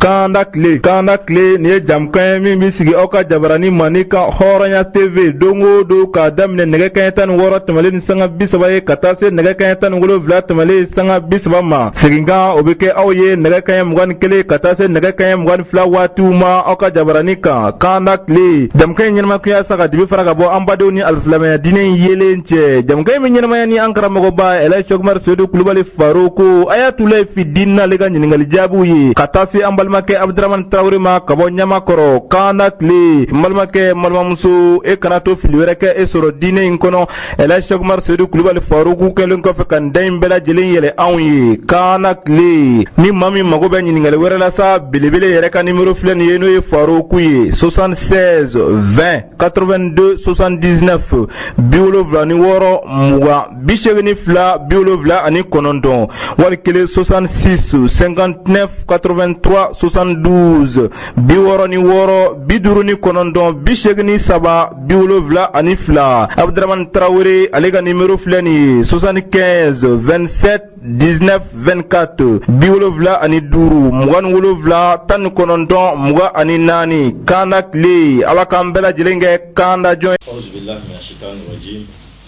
Kanda tile kanda tile nin ye jamukan ye min bɛ sigi aw ka jabaranin mandi kan hɔrɔnya TV don o don k'a daminɛ nɛgɛ kanɲɛ tan ni wɔɔrɔ tɛmɛnlen ni sanga bi saba ye ka taa se nɛgɛ kanɲɛ tan ni wolonwula tɛmɛnlen sanga bi saba ma seginkan o bɛ kɛ aw ye nɛgɛ kanɲɛ mugan ni kelen ka taa se nɛgɛ kanɲɛ mugan ni fila waatiw ma aw ka jabaranin kan kanda tile jamukan in ɲɛnamayakun ye sa ka dibi fara ka bɔ an badenw ni alisilamɛya diinɛ in yeelen cɛ jamukan min bɛ ɲɛnamaya ni an karamɔgɔba Ɛli Sɛki Umaru Seyidu Kulubali Faruku Ayatulahi fili dini ale ka ɲininkali jaabiw ye ka taa se an balimakɛ abudramani tarawele ma ka bɔ Ɲamakɔrɔ kanda tile n balimakɛ n balimamuso e kana to fili wɛrɛ kɛ e sɔrɔ diinɛ in kɔnɔ Ɛli Sɛki Umaru seyidu kulubali faruku kɛlen kɔfɛ ka nin da in bɛɛ lajɛlen yɛlɛ anw ye kanda tile ni maa min mago bɛ ɲininkali wɛrɛ la sa belebele yɛrɛ ka nimero filɛ nin ye n'o ye faruku ye 76 20 82 79 bi wolonwula ni wɔɔrɔ mugan bi segin ni fila bi wolonwula ani kɔnɔntɔn wali kelen 66 59 83 72 bi wɔɔrɔ ni wɔɔrɔ bi duuru ni kɔnɔntɔn bi segin ni saba bi wolonwula ani fila abuduramani tarawele ale ka nimero filɛ nin ye 75 27 19 24 bi wolonwula ani duuru mugan ni wolonwula tan ni kɔnɔntɔn mugan ani naani kanda tile ala k'an bɛɛ lajɛlen kɛ kanda jɔn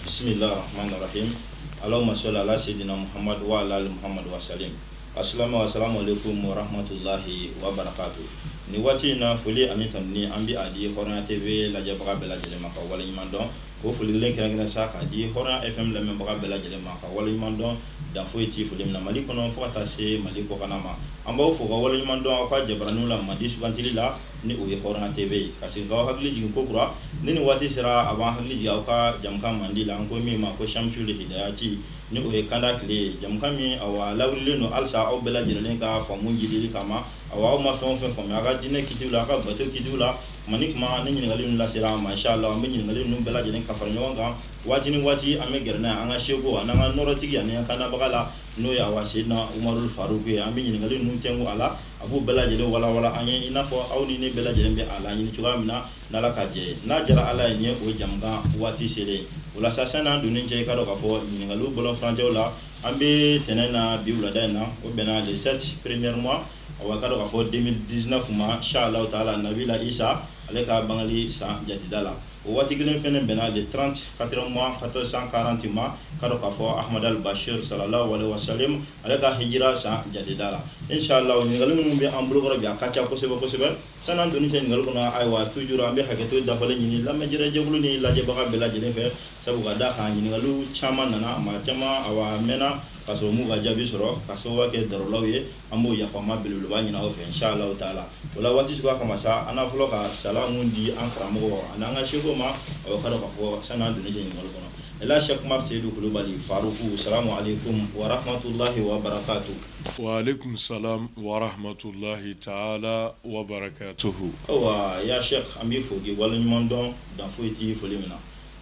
bisimilahi rahamani rahimi alahuma sɔli ala seyidina Muhamadu wa ala ali Muhamadu wa salim a asalamu aleyikumu wa rahamatulahi wa barakatu nin waati in na foli ani tanuni an bɛ a di Hɔrɔnya TV lajɛbaga bɛɛ lajɛlen ma ka waleɲuman dɔn o foli kelen kɛrɛnkɛrɛn sa k'a di Hɔrɔnya FM lamɛnbaga bɛɛ lajɛlen ma ka waleɲuman dɔn dan foyi ti foli min na Mali kɔnɔ fo ka taa se Mali kɔkana ma an b'aw fo ka waleɲuman dɔn aw ka jabaraninw la mandi sugantili la Ni o ye hɔrɔnya TV ye ka segin k'aw hakili jigin ko kura, ni nin waati sera a b'an hakili jigin aw ka jɛmukan mandi la, an ko min ma ko Shamsul Hidayati, ni o ye kanda tile ye, jɛmukan min awa a lawililen don halisa aw bɛɛ lajɛlen ka faamu jidili kama, awa aw ma fɛn o fɛn faamuya aw ka diinɛ kitiw la, aw ka bato kitiw la, tuma ni tuma ni ɲininkali ninnu lasera an ma, in sha Allah an bɛ ɲininkali ninnu bɛɛ lajɛlen ka fara ɲɔgɔn kan waati ni waati, an bɛ gɛrɛ n'a ye an ka seku ani an ka nɔɔrɔtigi ani an kandabaga la, n'o ye awa Seyidina Umarul Faruku ye, an bɛ ɲininkali ninnu tɛnku a la. A b'u bɛɛ lajɛlen walanwalan an ye i n'a fɔ aw ni ne bɛɛ lajɛlen bɛ a laɲini cogoya min na n'Ala ka jɛ ye. N'a diyara Ala ye nin ye o jɛmukan waati selen ye. O la sa sani an donni cɛ i k'a dɔn k'a fɔ ɲininkaliw bɔlɔnfurancɛw la an bɛ tɛnɛn na bi wulada in na o bɛnna le 7 premier mois awa i k'a dɔn k'a fɔ 2019 ma in sha Alahu taala Nabila Isa ale ka bangali san jatida la. O waati kelen fana bɛnna le 30 quatrième mois 1440 ma, i k'a dɔn k'a fɔ Ahmadu al Bachir salalahu alehi wa salim ale ka hijira san jatida la. In sha Allah ɲininkali minnu bɛ an bolokɔrɔ bi, a ka ca kosɛbɛ kosɛbɛ. Sani an donni cɛ ɲininkali kɔnɔ, ayiwa toujours an bɛ hakɛto dafalen ɲini lamɛnjɛrɛjɛkulu ni lajɛbaga bɛɛ lajɛlen fɛ, sabu ka d'a kan ɲininkaliw caman nana, maa caman awa mɛnna k'a sɔrɔ u m'u ka jaabi sɔrɔ, k'a sababuya kɛ darulaw ye. an b'o yafama belebeleba ɲini aw fɛ inshallah taala o la waati suguya kama sa an na fɔlɔ ka salamu di an karamɔgɔ ani an ka Seku ma awa k'a dɔn k'a fɔ sani an donni cɛ ɲininkali kɔnɔ Elhaj Cheikh Umar Seyidu Kulubali Faruku salamu aleykum wa rahmatulahi wa barakatu wa aleykum salam wa rahmatulahi taala wa barakatuhu ayiwa ya Cheikh an b'i fo k'i waleɲuman dɔn dan foyi t'i foli min na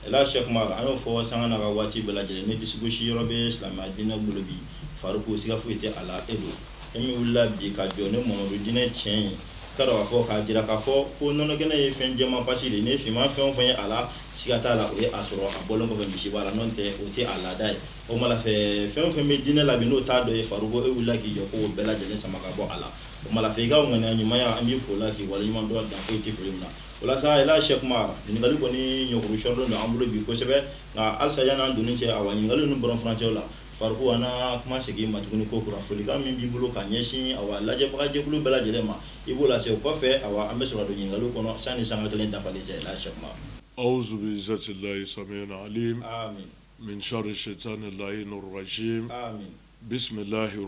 Elhaj Sɛki Umar, an y'o fɔ sanga n'a ka waati bɛɛ lajɛlen, ni disigosi yɔrɔ bɛ silamɛya diinɛ bolo bi, Faruku, siga foyi tɛ a la, e don. E min wulila bi ka jɔ ni Mamadu diinɛ tiɲɛ ye, k'a dɔn k'a fɔ, k'a jira k'a fɔ ko nɔnɔkɛnɛ ye fɛn jɛman pasi de ye, ni finman fɛn o fɛn ye a la, siga t'a la o ye a sɔrɔ a bɔlen kɔfɛ misiba la, n'o tɛ o tɛ a laada ye. O tuma la fɛ, fɛn o fɛn bɛ diinɛ la bi n'o t'a dɔ ye, Faruku, e wulila k'i jɔ ko o bɛɛ lajɛlen sama ka bɔ a la. O tuma la fɛ, i ka ŋaniya ɲumanya, an b'i fo o la, k'i waleɲumandɔn dan foyi tɛ foli min na. O la sa Elhaj Sɛki Umar ɲininkali kɔni ɲɔgɔn sɔrɔlen don an bolo bi kosɛbɛ nka halisa yan'an donni cɛ awa ɲininkali ninnu bɔlɔn furancɛ la Faruku an na kuma segin i ma tuguni ko kura folikan min b'i bolo ka ɲɛsin awa lajɛbaga jɛkulu bɛɛ lajɛlen ma i b'o lase o kɔfɛ awa an bɛ sɔrɔ don ɲininkali kɔnɔ sani sanga kelen dafali cɛ Elhaj Sɛki Umar awuzu bi'izzatillahi samiyil alim min sharri shaitanir rajim bisimilahi h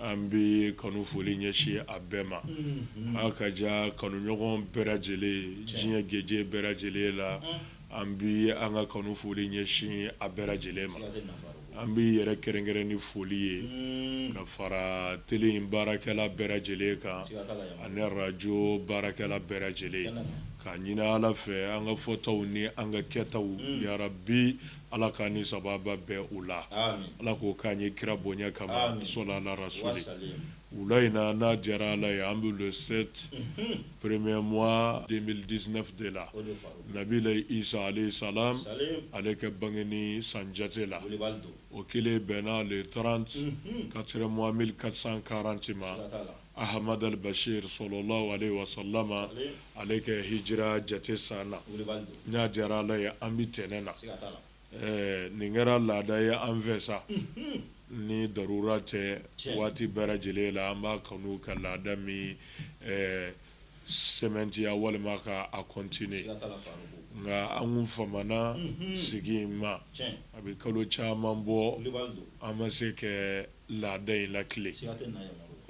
An bɛ kanu foli ɲɛsin a bɛɛ ma aw ka diya kanuɲɔgɔn bɛɛ lajɛlen diɲɛ gajɛ bɛɛ lajɛlen la an bɛ an ka kanu foli ɲɛsin a bɛɛ lajɛlen ma an b'i yɛrɛ kɛrɛnkɛrɛn ni foli ye ka fara tele baarakɛla bɛɛ lajɛlen kan ani arajo baarakɛla bɛɛ lajɛlen k'a ɲini Ala fɛ an ka fɔtaw ni an ka kɛtaw ya Rabi Ala k' ni sababa bɛɛ u la ala k'o k'an ye kira bonya kama sɔnnara so wula in na n'a diyara ala ye an bɛ se premɛmɔgɔ den diinɛfi de la nabi sa sa ale ka bange ni san jate la o kɛlen bɛn n'ale taara ka sera mɔgɔ mi karisakarati ma Ahmad al-Bashir sallallahu alayhi wa sallama ale ka hijira jate san na n'a diyara ala ye an bɛ tɛnɛn na nin kɛra laada ye an fɛ sa ni darura tɛ waati bɛɛ lajɛlen la an b'a kanu ka laada min sɛmɛntiya walima ka a kɔntine nka an kun famana sigi in ma a bɛ kalo caman bɔ an ma se ka laada in latilen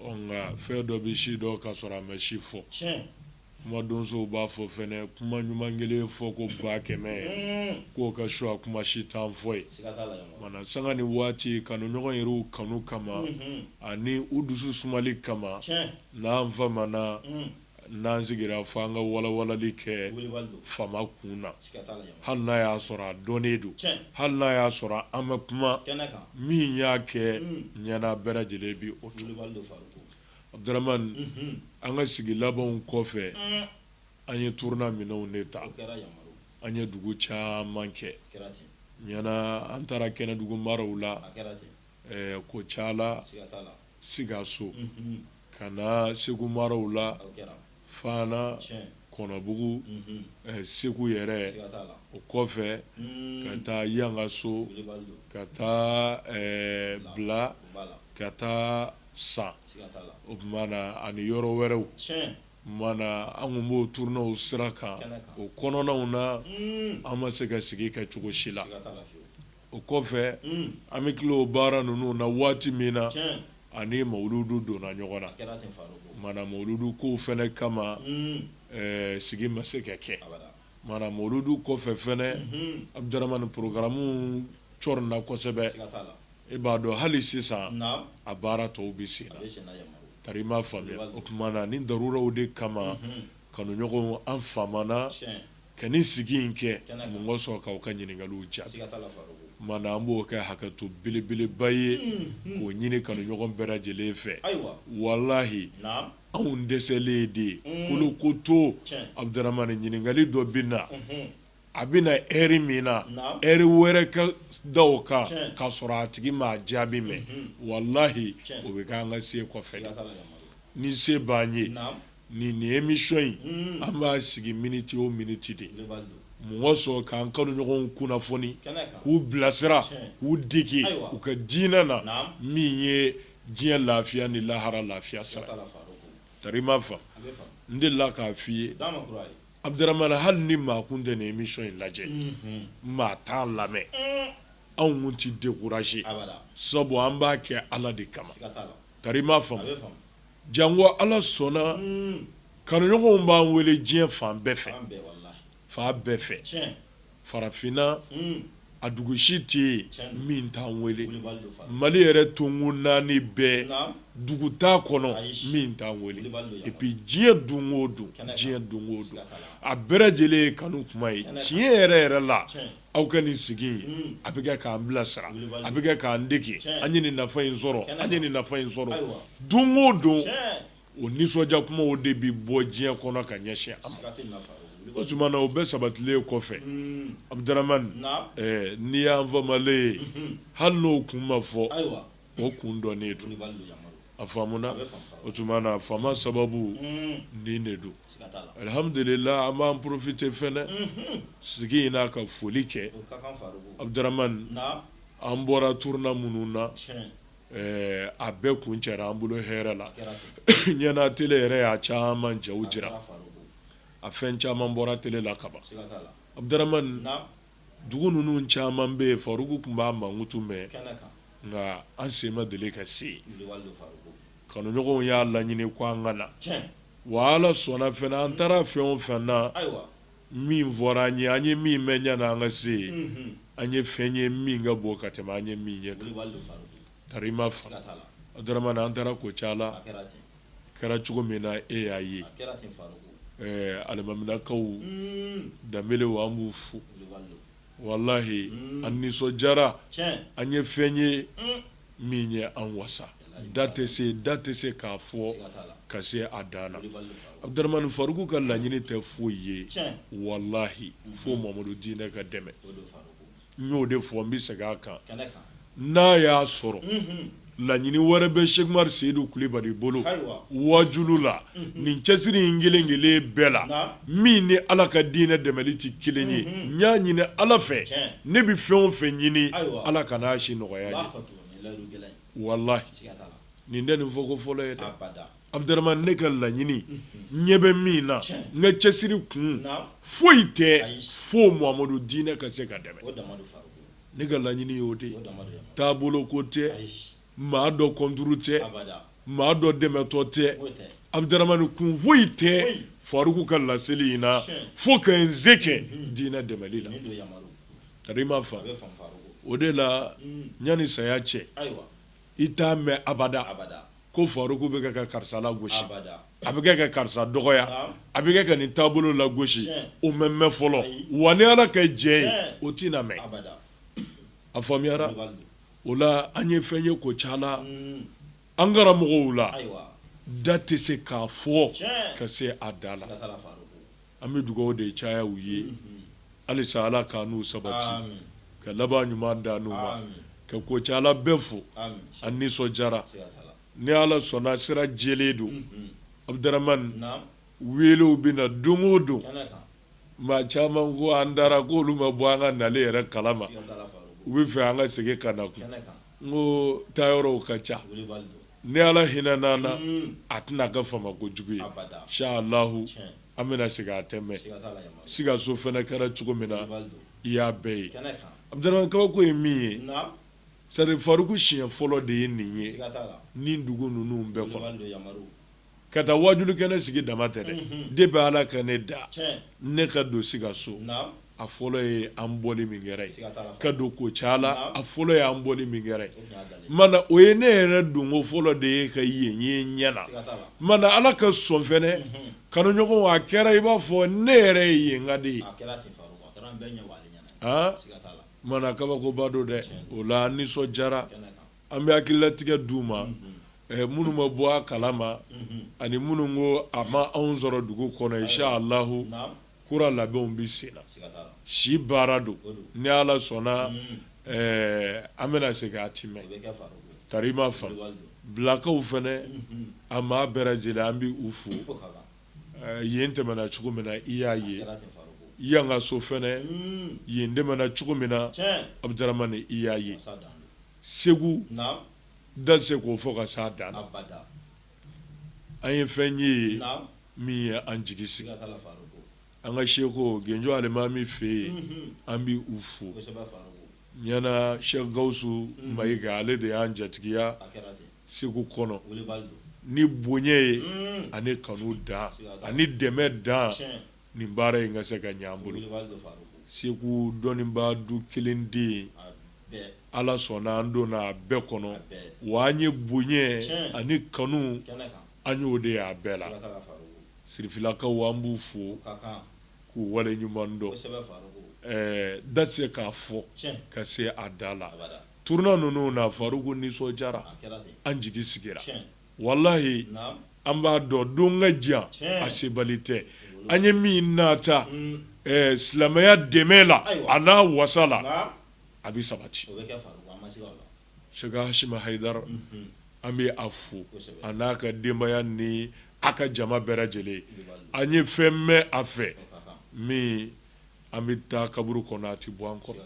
nka fɛn dɔ bɛ se dɔn ka sɔrɔ a ma se fɔ kuma donsow b'a fɔ fɛnɛ kuma ɲuman kelen fɔ ko ba kɛmɛ k'o ka su a kuma si tan fɔ ye mana sanga ni waati kanu ɲɔgɔn yɛrɛw kanu kama ani u dusu sumali kama n'an fa N'an sigira fo an ka walawalali kɛ fama kun na hali n'a y'a sɔrɔ a dɔnnen don hali n'a y'a sɔrɔ an bɛ kuma min y'a kɛ ɲɛna bɛɛ lajɛlen bɛ o to Abdurahman an ka sigi labanw kɔfɛ an ye turne minɛw de ta an ye dugu caman kɛ ɲɛna an taara Kɛnɛdugu maraw la Ɛɛ ko ca la Sikaso ka na Segu maraw la Fana Kɔnɔbugu Segu yɛrɛ o kɔfɛ ka taa Yangaso ka taa Bla ka taa San o tuma na ani yɔrɔ wɛrɛw mana an kun b'o turnew sira kan o kɔnɔnaw na an ma se ka sigi kɛ cogo si la o kɔfɛ an bɛ tila o baara ninnu na waati min na ani mawuludu donna ɲɔgɔn na mana mawuludu kow fɛnɛ kama sigi ma se ka kɛ mana mawuludu kɔfɛ fɛnɛ Abdurahman porogaramuw cɔrɔnna kosɛbɛ i b'a dɔn hali sisan a baara tɔw bɛ sen na tari i m'a faamuya o tuma na ni daruraw de kama kanuɲɔgɔnw an famana ka nin sigi in kɛ mun kosɔn k'aw ka ɲininkaliw jaabi mana an b'o kɛ hakɛto belebeleba ye k'o ɲini kanuɲɔgɔn bɛɛ lajɛlen fɛ walahi anw dɛsɛlen de ye kolokoto Abdurahman ɲininkali dɔ bɛ na a bɛ na heure min na heure wɛrɛ ka da o kan k'a sɔrɔ a tigi m'a jaabi mɛn walahi o bɛ kɛ an ka se kɔfɛ ni se b'an ye Nin nin émission in an b'a sigi miniti o miniti de mun kosɔn k'an kanuɲɔgɔnw kunnafoni k'u bilasira k'u dege u ka diinɛ na min ye diɲɛ lafiya ni lahara lafiya sira tari i m'a faamu n delila k'a fɔ i ye Abdurahman hali ni maa kun tɛ nin émission in lajɛ maa t'a lamɛn anw kun tɛ découragé sabu an b'a kɛ Ala de kama tari m'a fa Jango Ala sɔnna kanuɲɔgɔnw b'an wele diɲɛ fan bɛɛ fɛ, fan bɛɛ fɛ, farafinna a dugu si tɛ yen min t'an wele, Mali yɛrɛ tonkun naani bɛɛ dugu t'a kɔnɔ min t'an wele et puis diɲɛ don o don, diɲɛ don o don a bɛɛ lajɛlen ye kanu kuma ye tiɲɛ yɛrɛ yɛrɛ la aw ka nin sigi in a bɛ kɛ k'an bilasira a bɛ kɛ k'an dege an ye nin nafa in sɔrɔ an ye nin nafa in sɔrɔ don o don o nisɔndiya kumaw de bɛ bɔ diɲɛ kɔnɔ ka ɲɛsin o tuma na o bɛɛ sabatilen kɔfɛ Abdurahmani n'i y'an famalen ye hali n'o kun ma fɔ ayiwa o kun dɔnnen don a faamuna o tuma na fama sababu nin de don alihamdulila an b'an porofite fɛnɛ sigi in na ka foli kɛ aduramani an bɔra turune minnu na a bɛɛ kuncɛra an bolo hɛrɛ la ɲana tele yɛrɛ y'a caman jaw jira a fɛn caman bɔra tele la kaban aduramani dugu ninnu caman bɛ yen faruku tun b'a mankutu mɛn nka an sen ma deli ka se kanuɲɔgɔnw y'a laɲini ko an ka na wa ala sɔnna fana an taara fɛn o fɛn na min fɔra an ye an ye min mɛn ɲani an ka se an ye fɛn ye min ka bon ka tɛmɛ an ye min ye ka ma an taara kucala kɛra cogo min na e y'a ye alimaminakaw danbelew an b'u fo walayi an nisɔndiyara an ye fɛn ye min ye an wasa da tɛ se da tɛ se k'a fɔ ka se a dan na aduramani faruku ka laɲini tɛ foyi ye walayi fo mamadu diinɛ ka dɛmɛ n y'o de fɔ n bɛ segin a kan n'a y'a sɔrɔ laɲini wɛrɛ bɛ sɛki umaru seyidu kulubali bolo waajulu la nin cɛsiri in kelen kelen bɛɛ la min ni ala ka diinɛ dɛmɛli tɛ kelen ye n y'a ɲini ala fɛ ne bɛ fɛn o fɛn ɲini ala kana a si nɔgɔya n ye walayi nin tɛ nin fɔ ko fɔlɔ ye Aduramani ne ka laɲini ɲɛ bɛ min na n ka cɛsiri kun foyi tɛ fo mamadu diinɛ ka se ka dɛmɛ ne ka laɲini y'o de ye taabolo ko tɛ maa dɔ kɔnturu tɛ maa dɔ dɛmɛtɔ tɛ aduramani kun foyi tɛ faruku ka laseli in na fo ka n se kɛ diinɛ dɛmɛli la ka i ma fa o de la ɲani saya cɛ i t'a mɛn abada abada Ko faruku bɛ kɛ ka karisa lagosi a bɛ kɛ ka karisa dɔgɔya a bɛ kɛ ka nin taabolo lagosi o ma mɛn fɔlɔ wa ni ala ka jɛ ye o tɛna mɛn a faamuyara o la an ye fɛn ye kucala an karamɔgɔw la da tɛ se k'a fɔ ka se a dan na An bɛ dugawu de caya u ye halisa ala k'an n'u sabati ka laban ɲuman d'an n'u ma ka kucala bɛɛ fo an nisɔndiyara ni ala sɔnna sira jɛlen don aduramani welew bɛ na don o don maa caman ko an taara ko olu ma bɔ an ka nali yɛrɛ kala ma u bɛ fɛ an ka segin ka na n ko taayɔrɔw ka ca Ni ala hinɛna an na a tɛna kɛ fama ko jugu ye inshallahu an bɛna segin a tɛ mɛɛn sikaso fana kɛra cogo min na i y'a bɛɛ ye abdurahmani kabako ye min ye c'est à dire faruku siɲɛ fɔlɔ de ye nin ye nin dugu ninnu bɛɛ Ka taa wajulu kɛnɛ sigi dama tɛ dɛ depuis ala ka ne da ne ka don sikaso a fɔlɔ ye an bɔli min kɛra yen ka don kucala a fɔlɔ ye an bɔli min kɛra yen mana o ye ne yɛrɛ don ko fɔlɔ de ye ka yen ye ɲɛ na mana ala ka sɔn fɛnɛ kanuɲɔgɔnya kɛra i b'a fɔ ne yɛrɛ ye yenka de ye mana kabakoba don dɛ o la an nisɔn jara An bɛ hakililatigɛ d'u ma minnu ma bɔ a kala ma ani minnu ko a ma anw sɔrɔ dugu kɔnɔ inshallahu kura labɛnw bɛ sen na si baara don ni ala sɔnna an bɛna segin a tɛ mɛɛn ka i ma fa bilakaw fana a maa bɛɛ lajɛlen an bɛ u fo yen tɛmɛna cogo min na i y'a ye yangaso fana yen tɛmɛna cogo min na abdurahmani i y'a ye segu da tɛ se k'o fɔ ka s'a dan na an ye fɛn ye min ye an jigi sigi an ka sɛku genjo alimami fɛ yen an bɛ u fo ɲana sɛki gawusu mayiga ale de y'an jatigiya segu kɔnɔ ni bonya ye ani kanu dan ani dɛmɛ dan nin baara in ka se ka ɲɛ an bolo segu dɔnnibaa du kelen den ye ala sɔnna an donna a bɛɛ kɔnɔ wa an ye bonya ani kanu an y'o de y'a bɛɛ la sirifilakaw an b'u fo k'u wale ɲuman dɔn da tɛ se k'a fɔ ka se a dan la tournée ninnu na faruku an nisɔn jara an jigi sigira walahi an b'a dɔn don ka jan a sebali tɛ an ye min nata silamɛya dɛmɛ la a n'a wasa la a bɛ sabati sɛki hasimi hayidara an bɛ a fo a n'a ka denbaya ni a ka jama bɛɛ lajɛlen an ye fɛn mɛn a fɛ min an bɛ taa kaburu kɔnɔ a tɛ bɔ an kɔnɔ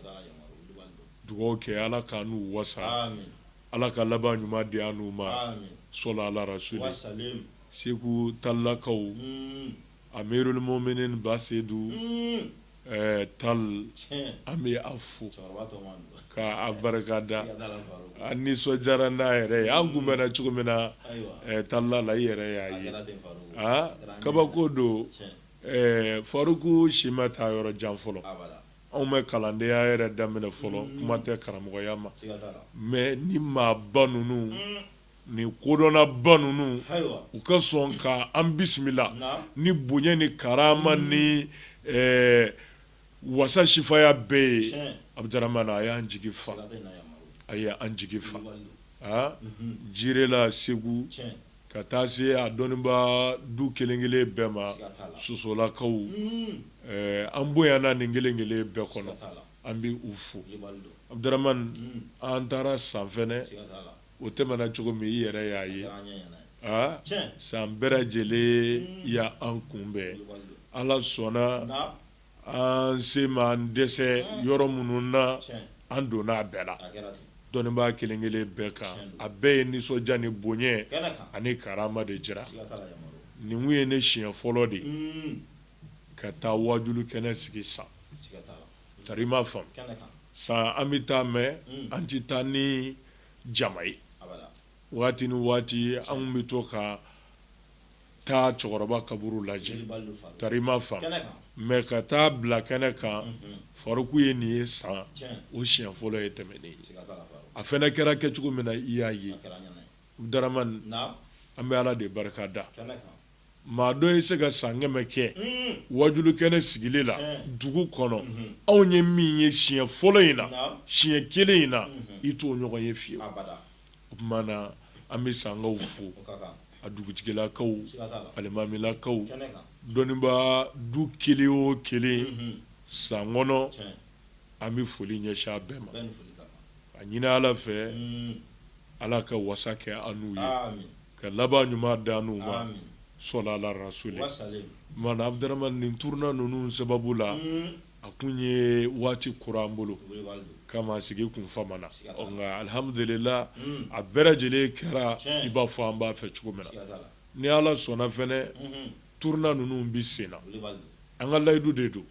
dugawu kɛ ala k'an n'u wasa Ala ka laban ɲuman di an n'u ma. Aami. Sɔla Ala rasuli. Wa salim. Segu talilakaw. Uun. Amirul muminin Basedu. Uun. Ɛɛ tal. Tiɲɛ. An bɛ a fo. Cɛkɔrɔba tɔɔma don. Ka a barika da. Siga t'a la Farouk. An nisɔndiyara n'a yɛrɛ ye. An kunbɛnna cogo min na. Ayiwa. Ɛɛ talila la i yɛrɛ y'a ye. A kɛra ten Farouk. Aa kabako don. Tiɲɛ. Ɛɛ Farouk si ma taa yɔrɔ jan fɔlɔ. Abada. Anw ma kalandenya yɛrɛ daminɛ fɔlɔ kuma tɛ karamɔgɔya ma mais ni maaba ninnu ni kodɔnnaba ninnu u ka sɔn k ka an bisimila ni bonya ni karama ni wasa sifaya bɛɛ ye Abdramane a y'an jigi fa a y ye an jigi fa aa Jirela segu Ka taa se a dɔnnibaa du kelenkelen bɛɛ ma sosolakaw an bonyana nin kelen kelen bɛɛ kɔnɔ an bɛ u fo Abdramane an taara san fɛnɛ o tɛmɛna cogo min i yɛrɛ y'a ye aa san bɛɛ lajɛlen y'an kunbɛn ala sɔnna An se m'an dɛsɛ yɔrɔ minnu na an donna a bɛɛ la dɔnnibaa kelen kelen bɛɛ kan a bɛɛ ye nisɔndiya ni bonya ani karama de jira nin kun ye ne siɲɛ fɔlɔ de ye ka taa wajulu kɛnɛ sigi san tari i m'a faamu san an bɛ taa mais an tɛ taa ni jama ye waati ni waati an bɛ to ka taa cɛkɔrɔba kaburu lajɛ tari i m'a faamu mais ka taa bila kɛnɛ kan Faruku ye nin ye san o siɲɛ fɔlɔ ye tɛmɛnen ye a fɛnɛ kɛra kɛcogo min na i y'a ye Abdramane an bɛ ala de barika da maa dɔ ye se ka san kɛmɛ kɛ wajulu kɛnɛ sigili la dugu kɔnɔ anw ye min ye siɲɛ fɔlɔ in na siɲɛ kelen in na i t'o ɲɔgɔn ye fiye o tuma na an bɛ sankaw fo a dugutigilakaw alimamilakaw dɔnnibaa du kelen o kelen san kɔnɔ an bɛ foli ɲɛsin a bɛɛ ma a ɲini ala fɛ ala ka wasa kɛ an n'u ye ka laban ɲuman d'an n'u ma sɔla ala rasuli mana Abdramane nin turuna ninnu sababu la A kun ye waati kura an bolo kama sigi kun famana nka alihamdulilahi a bɛɛ lajɛlen kɛra i b'a fɔ an b'a fɛ cogo min na ni ala sɔnna fɛnɛ turuna ninnu bɛ sen na an ka layidu de don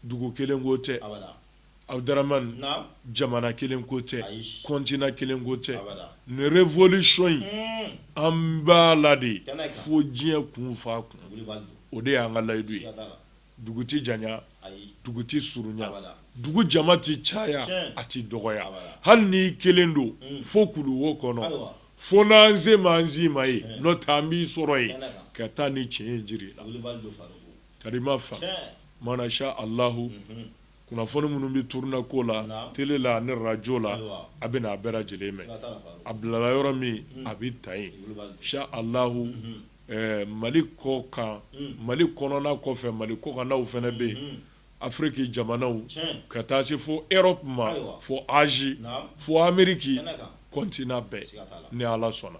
dugu kelen ko tɛ Abdramane jamana kelen ko tɛ continent kelen ko tɛ nin révolution in an b'a la de fo diɲɛ kun f'a kun o de y'an ka layidu ye dugu tɛ janya dugu tɛ surunya dugu jama tɛ caya a tɛ dɔgɔya hali n'i kelen don fo kulu wo kɔnɔ fo n'an se m'an si ma ye n'o tɛ an b'i sɔrɔ yen ka taa nin tiɲɛ jira i la tari i m'a faamu masa alah kunnafoni minnu bɛ turunɛ ko la tele la ni arajo la a bɛna a bɛɛ lajɛlen mɛn a bilala yɔrɔ min a bɛ ta yen inshalahu mali kɔ kan mali kɔnɔna kɔfɛ mali kɔkannaw fana bɛ yen afiriki jamanaw ka taa se fo erɔpu ma fo azi fo ameriki kɔntinan bɛɛ ni ala sɔnna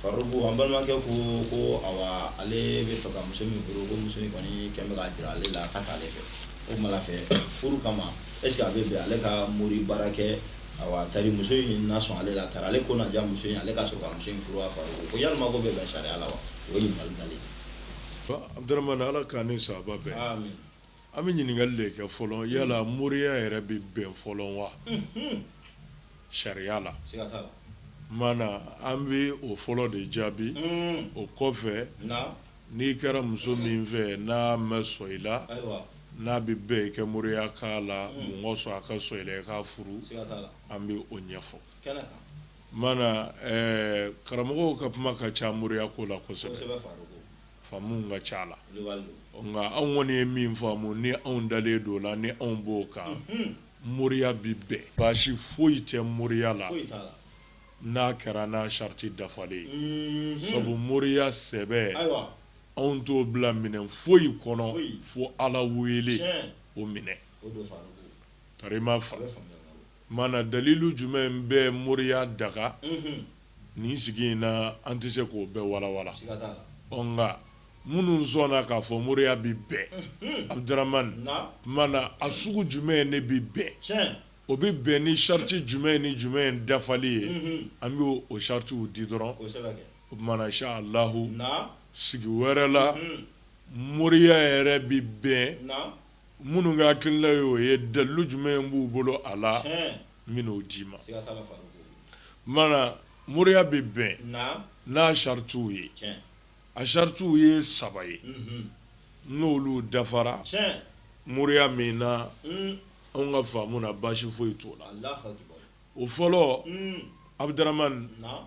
Faruku an balimakɛ ko ko ale bɛ fɛ ka muso min furu ko muso in kɔni kɛlen bɛ k'a jira ale la k'a t'ale fɛ o kuma fɛ furu kama ɛsikɛ a bɛ bɛn ale ka mori baara kɛ tari muso in na sɔn ale la tari ale ko na diya muso in ale ka sɔrɔ ka muso in furu Faruku ko yala o bɛ bɛn sariya la wa o ye ɲininkali dalen ye ala k'an ni sawaba bɛn an bɛ ɲininkali de kɛ fɔlɔ yala moriya yɛrɛ bɛ bɛn fɔlɔ wa sariya la mana an bɛ o fɔlɔ de jaabi o kɔfɛ n'i kɛra muso min fɛ n'a ma sɔn i la n'a bɛ bɛn i ka moriya k'a la muso ka sɔn a ka sɔn i la i k'a furu an bɛ o ɲɛfɔ mana karamɔgɔw ka kuma ka ca moriya ko la kosɛbɛ faamu ka ca a la nka anw kɔni ye min faamu ni anw dalen don o la ni anw b'o kan Moriya bɛ bɛn baasi foyi tɛ moriya la n'a kɛra n'a sariti dafalen ye sabu moriya sɛbɛ anw t'o bila minɛn foyi kɔnɔ fo ala wele o minɛn tari i m'a faamu mana dalilu jumɛn bɛ moriya daga Nin sigi in na an tɛ se k'o bɛɛ walawala nka minnu sɔnna k'a fɔ moriya bɛ bɛn Abudaramani mana a sugu jumɛn in ne bɛ bɛn o bɛ bɛn ni sariti jumɛn in ni jumɛn in dafali ye an bɛ o saritiw di dɔrɔn o tuma na inshalahu sigi wɛrɛ la moriya yɛrɛ bɛ bɛn minnu ka hakilina ye o ye dalilu jumɛn in b'u bolo a la n bɛna o d'i ma siga t'a la Faruku maana moriya bɛ bɛn naam n'a chartiw ye tiɲɛ a chartiw ye saba ye unhun n'olu dafara tiɲɛ moriya min na uun anw ka faamu na baasi foyi t'o la Alahu akibaru o fɔlɔ uun Abudaramani naam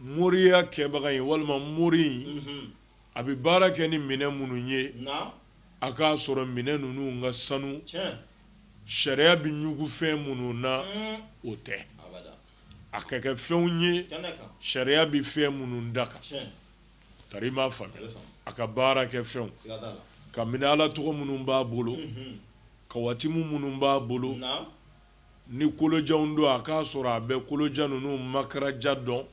moriya kɛbaga in walima mori in unhun a bɛ baara kɛ ni minɛn minnu ye naam a k'a sɔrɔ minɛn ninnu ka sanu tiɲɛ sariya bɛ ɲugu fɛn minnu na o tɛ a ka kɛ fɛnw ye sariya bɛ fɛn minnu daga tari i m'a faamuya a ka baara kɛ fɛnw ka minɛ ala tɔgɔ minnu b'a bolo kawatimu minnu b'a bolo ni kolojanw don a k'a sɔrɔ a bɛ kolojan ninnu makaraja dɔn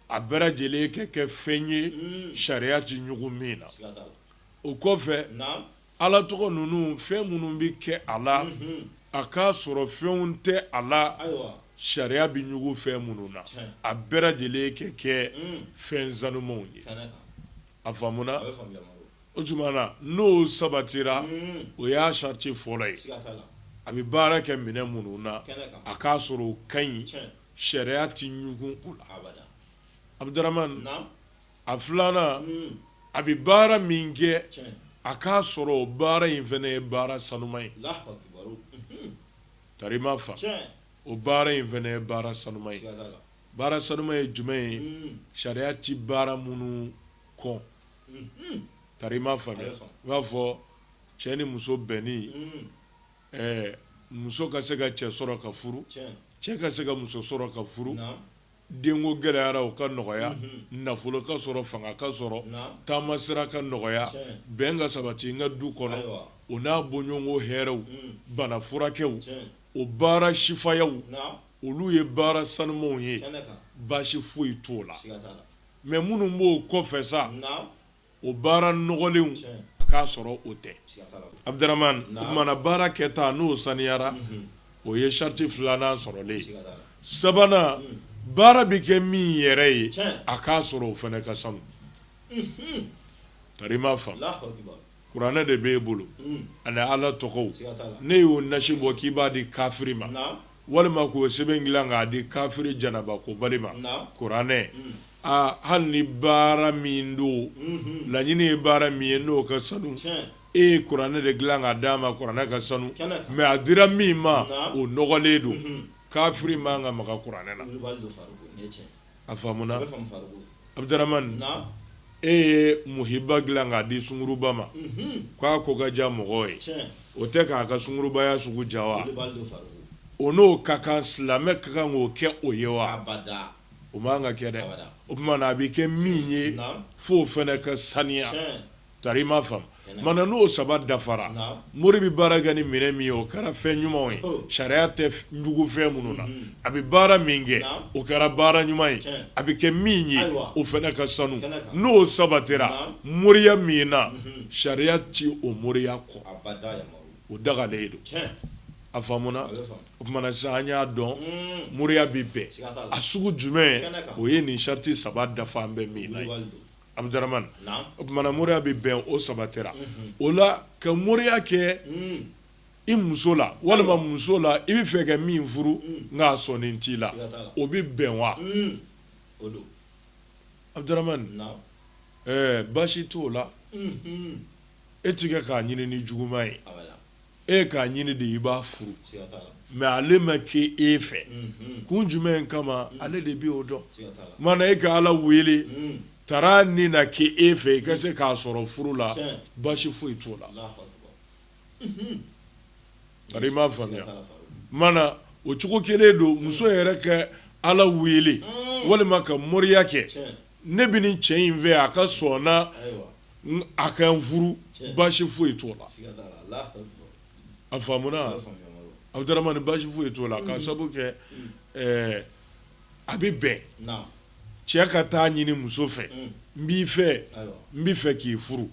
a bɛɛ lajɛlen ka kɛ fɛn ye sariya tɛ ɲugu min na o kɔfɛ Ala tɔgɔ ninnu fɛn minnu bɛ kɛ a la, unhun, a k'a sɔrɔ fɛnw tɛ a la, ayiwa, sariya bɛ ɲugun fɛn minnu na, tiɲɛ, a bɛɛ lajɛlen ka kɛ fɛn sanumanw ye, kɛnɛ kan, a faamuna, a bɛ faamu, Yamaru, o tuma na n'o sabatira, unhun, o y'a sariti fɔlɔ ye, siga t'a la, a bɛ baara kɛ minɛn minnu na, kɛnɛ kan, a k'a sɔrɔ o ka ɲi, tiɲɛ, sariya tɛ ɲugun o la, abada, Abudaramani, naamu, a filanan a bɛ baara min kɛ a k'a sɔrɔ o baara in fana ye baara sanuma ye tari m'a faamu o baara in fana ye baara sanuma ye baara sanuma ye jumɛn ye sariya tɛ baara minnu kɔn tari m'a faamu i b'a fɔ cɛ ni muso bɛnni muso ka se ka cɛ sɔrɔ ka furu cɛ ka se ka muso sɔrɔ ka furu Denko gɛlɛyara o ka nɔgɔya nafolo ka sɔrɔ fanga ka sɔrɔ taama sira ka nɔgɔya bɛn ka sabati n ka du kɔnɔ o n'a bɔɲɔgɔnko hɛrɛw bana furakɛw o baara sifayaw olu ye baara sanumanw ye baasi foyi t'o la mɛ minnu b'o kɔfɛ sa o baara nɔgɔlenw a k'a sɔrɔ o tɛ Abudaramani o tuma na baara kɛta n'o saniyara o ye sariti filanan sɔrɔlen sabanan baara bɛ kɛ min yɛrɛ ye a k'a sɔrɔ o fana ka sanu tari m'a faamu kuranɛ de bɛ e bolo ani ala tɔgɔw n'e y'o nasi bɔ k'i b'a di kafiri ma walima k'o sɛbɛn dilan k'a di kafiri janaba kobali ma kuranɛ aa hali ni baara min don laɲini ye baara min ye n'o ka sanu e ye kuranɛ de dilan k'a d'a ma kuranɛ ka sanu mɛ a dira min ma o nɔgɔlen don kafiri man ka maga kuranɛ na A faamuna Abudaramani e ye muhiba dilan k'a di sunguruba ma k'a ko ka diya mɔgɔ ye o tɛ k'a ka sungurubaya sugu diya wa o n'o ka kan silamɛ ka kan k'o kɛ o ye wa o man ka kɛ dɛ o tuma na a bɛ kɛ min ye f'o fana ka saniya Tari m'a faamu mana n'o saba dafara mori bɛ baara kɛ ni minɛn min ye o kɛra fɛn ɲumanw ye sariya tɛ ɲugun fɛn minnu na a bɛ baara min kɛ o kɛra baara ɲuman ye a bɛ kɛ min ye o fana ka sanu n'o sabatira moriya min na sariya tɛ o moriya kɔn o dagalen don a faamuna o tuma na sa an y'a dɔn moriya bɛ bɛn a sugu jumɛn o ye nin sariti saba dafalen bɛ min Abdramane o tuma na moriya bɛ bɛn o sabatira o la ka moriya kɛ i muso la walima muso la i bɛ fɛ ka min furu nka a sɔnni t'i la o bɛ bɛn wa Abdramane baasi t'o la e tɛ kɛ k'a ɲini ni juguman ye e k'a ɲini de i b'a furu mɛ ale ma kɛ e fɛ mhm. kun jumɛn kama mhm. ale de bɛ o dɔn mana e ka ala wele mhm. taara ni na kɛ e fɛ i ka se k'a sɔrɔ furu la baasi foyi t'o la i m'a faamuya mana o cogo kelen don muso yɛrɛ ka ala wele walima ka moriya kɛ ne bɛ nin cɛ in fɛ a ka sɔn na a ka n furu baasi foyi t'o la a faamuna Abdramane baasi foyi t'o la k'a sabu kɛ a bɛ bɛn cɛ ka taa ɲini muso fɛ n b'i fɛ n bɛ fɛ k'i furu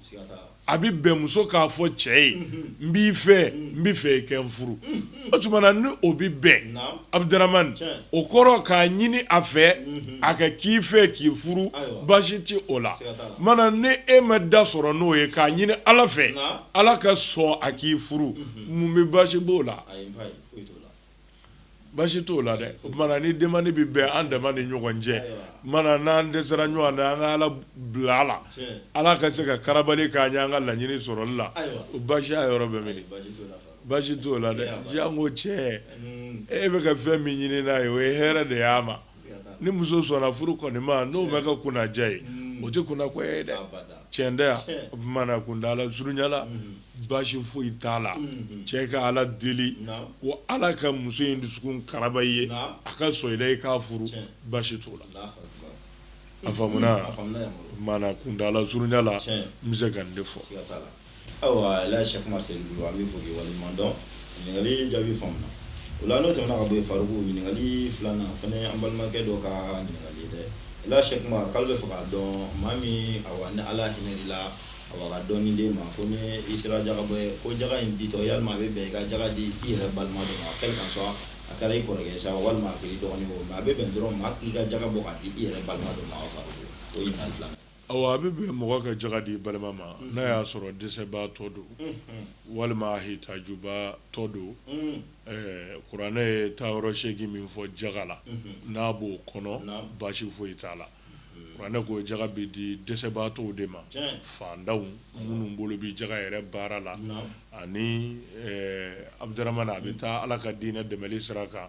a bɛ bɛn muso k'a fɔ cɛ ye n b'i fɛ n bɛ fɛ i ka n furu o tuma na ni o bɛ bɛn Abdramane o kɔrɔ k'a ɲini a fɛ a ka k'i fɛ k'i furu baasi tɛ o la mana ni e ma da sɔrɔ n'o ye k'a ɲini ala fɛ ala ka sɔn a k'i furu mun bɛ baasi b'o la Baasi t'o la dɛ o tuma na ni demande bɛ bɛn an dama ni ɲɔgɔn cɛ mana n'an dɛsɛra ɲɔgɔn na an ka ala bila a la ala ka se ka karabali k'an ye an ka laɲini sɔrɔli la o baasiya yɔrɔ bɛ min baasi t'o la dɛ janko cɛ e bɛ ka fɛn min ɲini n'a ye o ye hɛrɛ de y'a ma ni muso sɔnna furu kɔni ma n'o bɛ ka kunnaja ye o tɛ kunnako ye dɛ tiɲɛ tɛ yan o tuma na kuntaala surunya la baasi foyi t'a la cɛ ka ala deli ko ala ka muso in dusukun karaba i ye a ka sɔn i la i k'a furu baasi t'o la a faamuna mana kuntaala surunya la n bɛ se ka nin de fɔ Ayiwa la Cheikh Oumar se bolo an b'i fo k'i waleɲumandɔn ɲininkali jaabi faamuna o la n'o tɛmɛna ka bɔ yen Faruku ɲininkali filanan fana an balimakɛ dɔ ka ɲininkali ye dɛ la Cheikh Oumar k'ale bɛ fɛ k'a dɔn maa min awa ni ala hinɛna i la a ka dɔɔni d'e ma ko ni i sera jaga bɔ ye ko jaga in ditɔ yala a bɛ bɛn i ka jaga di i yɛrɛ balima dɔ ma quel qu'en soit a kɛra i kɔrɔkɛ sa walima a kɛra i dɔgɔnin a bɛ bɛn dɔrɔn maa k'i ka jaga bɔ k'a di i yɛrɛ balima dɔ ma Faruku o A bɛ bɛn mɔgɔ ka jaga di balima ma n'a y'a sɔrɔ dɛsɛbaatɔ don walima hitajubaatɔ don kuranɛ ye taayɔrɔ seegin min fɔ jaga la n'a b'o kɔnɔ baasi foyi t'a la kuranɛ ko jaga bɛ di dɛsɛbaatɔw de ma faantanw minnu bolo bɛ jaga yɛrɛ baara la ani Abdramane a bɛ taa ala ka diinɛ dɛmɛli sira kan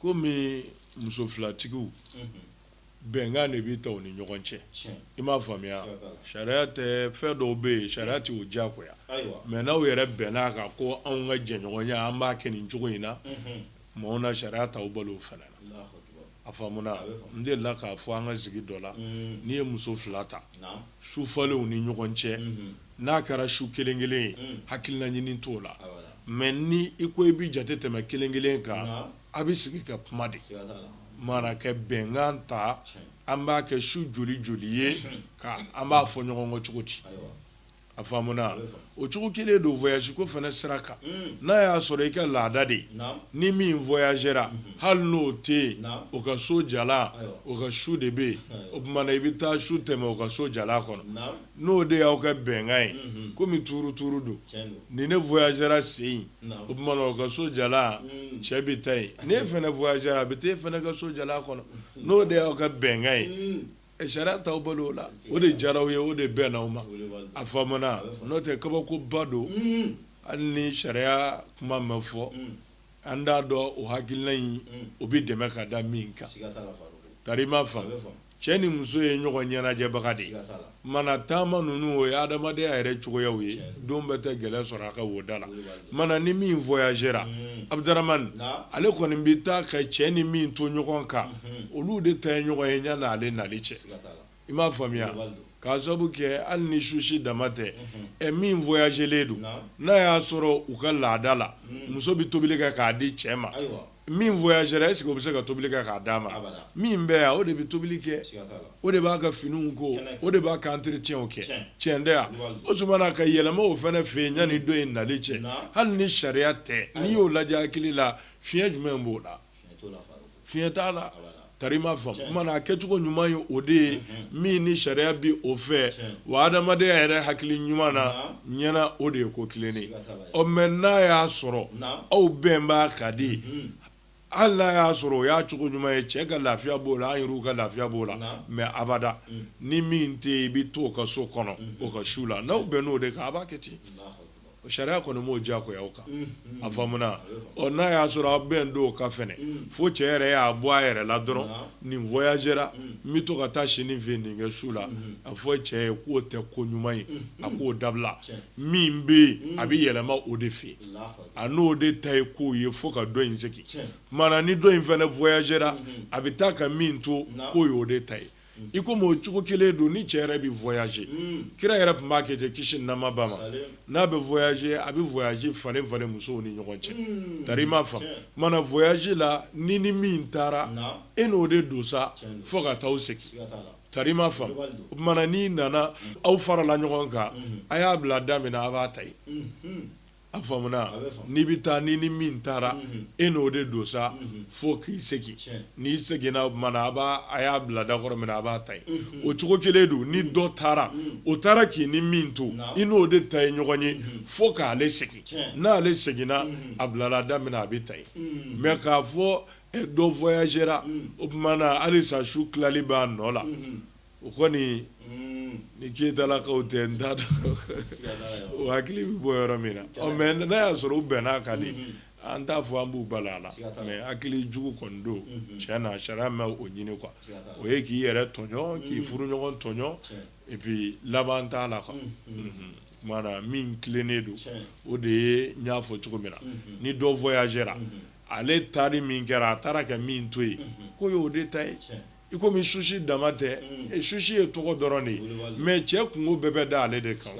Komi muso filatigiw bɛnkan de bɛ ta u ni ɲɔgɔn cɛ i m'a faamuya sariya tɛ fɛn dɔw bɛ yen sariya tɛ o diyagoya mais n'aw yɛrɛ bɛnna a kan ko anw ka jɛɲɔgɔnya an b'a kɛ nin cogo in na maaw na sariya t'aw bali o fana na a faamuna n delila k'a fɔ an ka sigi dɔ la n'i ye muso fila ta su falen u ni ɲɔgɔn cɛ N'a kɛra su kelen kelen ye hakilina ɲini t'o la mais ni i ko i bɛ jate tɛmɛ kelen kelen kan a bɛ sigi ka kuma de mana ka bɛnkan ta an b'a kɛ su joli joli ye ka an b'a fɔ ɲɔgɔn kɔ cogo di a faamuna o cogo kelen don voyage ko fana sira kan n'a y'a sɔrɔ i ka laada de ye ni min voyagera hali n'o tɛ yen o ka so jalan o ka su de bɛ yen o tuma na i bɛ taa su tɛmɛ o ka so jalan kɔnɔ n'o de y'aw ka bɛnkan ye kɔmi tuuru tuuru don ni ne voyagera sen o tuma na o ka so jalan cɛ bɛ taa yen n'e fana voyagera a bɛ taa e fana ka so jalan kɔnɔ n'o de y'aw ka bɛnkan ye ɛ sariya t'aw bali o la o de diyara aw ye o de bɛnna aw ma a faamuna n'o tɛ kabakoba don hali ni sariya kuma ma fɔ an t'a dɔn o hakilina in o bɛ dɛmɛ ka da min kan tari m'a faamu Cɛ ni muso ye ɲɔgɔn ɲɛnajɛbaga de ye mana taama ninnu o ye adamadenya yɛrɛ cogoyaw ye dɔ bɛ taa gɛlɛya sɔrɔ a ka woda la mana ni min voyagera Abdramane ale kɔni bɛ taa ka cɛ ni min to ɲɔgɔn kan olu de ta ye ɲɔgɔn ye yanni ale nali cɛ i m'a faamuya k'a sababu kɛ hali ni susi dama tɛ ɛ min voyagelen don n'a y'a sɔrɔ u ka laada la muso bɛ tobili kɛ k'a di cɛ ma min voyagera est-ce que o bɛ se ka tobili kɛ k'a d'a ma? Abada. Min bɛ yan o de bɛ tobili kɛ, siga t'a la. o de b'a ka finiw ko, Kɛnɛ kan. o de b'a ka entretien kɛ, Tiɲɛ. tiɲɛ tɛ wa? Wali. O tuma na ka yɛlɛma o fana fɛ yen yanni dɔ in nali cɛ, Naam. hali ni sariya tɛ, n'i y'o lajɛ hakili la, fiɲɛ jumɛn b'o la? Fiɲɛ t'o la Faruku. Fiɲɛ t'a la. Abada. tari m'a faamu mana a kɛcogo ɲuman ye o de ye min ni sariya bɛ o fɛ wa adamadenya yɛrɛ hakili ɲuman na ɲɛna o de ye ko tilennen ɔ mais n'a y'a sɔrɔ aw bɛn b'a ka di hali n'a y'a sɔrɔ o y'a cogo ɲuman ye cɛ ka lafiya b'o la an yɛrɛ ka lafiya b'o la mais abada ni min tɛ yen i bɛ to o ka so kɔnɔ o ka su la n'aw bɛnna o de kan a b'a kɛ ten sariya kɔni m'o diyagoya aw kan a faamuna ɔ n'a y'a sɔrɔ aw bɛnnen don o kan fana fo cɛ yɛrɛ y'a bɔ a yɛrɛ la dɔrɔn nin voyagera n bɛ to ka taa si nin fɛ nin ka su la a fɔ cɛ ye k'o tɛ ko ɲuman ye a k'o dabila min bɛ yen a bɛ yɛlɛma o de fɛ a n'o de ta ye k'o ye fo ka dɔ in segin mana ni dɔ in fana voyagera a bɛ taa ka min to k'o ye o de ta ye i komi o cogo kelen don ni cɛ yɛrɛ bɛ voyager kira yɛrɛ tun b'a kɛ ten kisi ni nɛɛma b'a ma n'a bɛ voyager a bɛ voyage falen falen musow ni ɲɔgɔn cɛ tari i m'a faamu mana voyage la n'i ni min taara e n'o de don sa fo ka taa segin tari i m'a faamu o tuma na n'i nana aw farala ɲɔgɔn kan a y'a bila da min na a b'a ta A faamuna n'i bɛ taa n'i ni min taara e n'o de don sa fo k'i segin n'i seginna o tuma na a b'a a y'a bila da kɔrɔ min na a b'a ta yen o cogo kelen don ni dɔ taara o taara k'i ni min to i n'o de ta ye ɲɔgɔn ye fo k'ale segin n'ale seginna a bilala da min na a bɛ ta yen mais k'a fɔ dɔ voyagera o tuma na halisa su tilali b'a nɔ la o kɔni ni Keyitalakaw tɛ n t'a dɔn o hakili bɛ bɔ yɔrɔ min na ɔ mais n'a y'a sɔrɔ u bɛnn'a kan de an t'a fɔ an b'u bala a la mais hakili jugu kɔni don tiɲɛ na sariya ma o ɲini quoi o ye k'i yɛrɛ tɔɲɔ k'i furuɲɔgɔn tɔɲɔ et puis laban t'a la o tuma na min tilennen don o de ye n y'a fɔ cogo min na ni dɔ voyagera ale taari min kɛra a taara ka min to yen ko y'o de ta ye I komi susi dama tɛ susi ye tɔgɔ dɔrɔn de ye mais cɛ kungo bɛɛ bɛ da ale de kan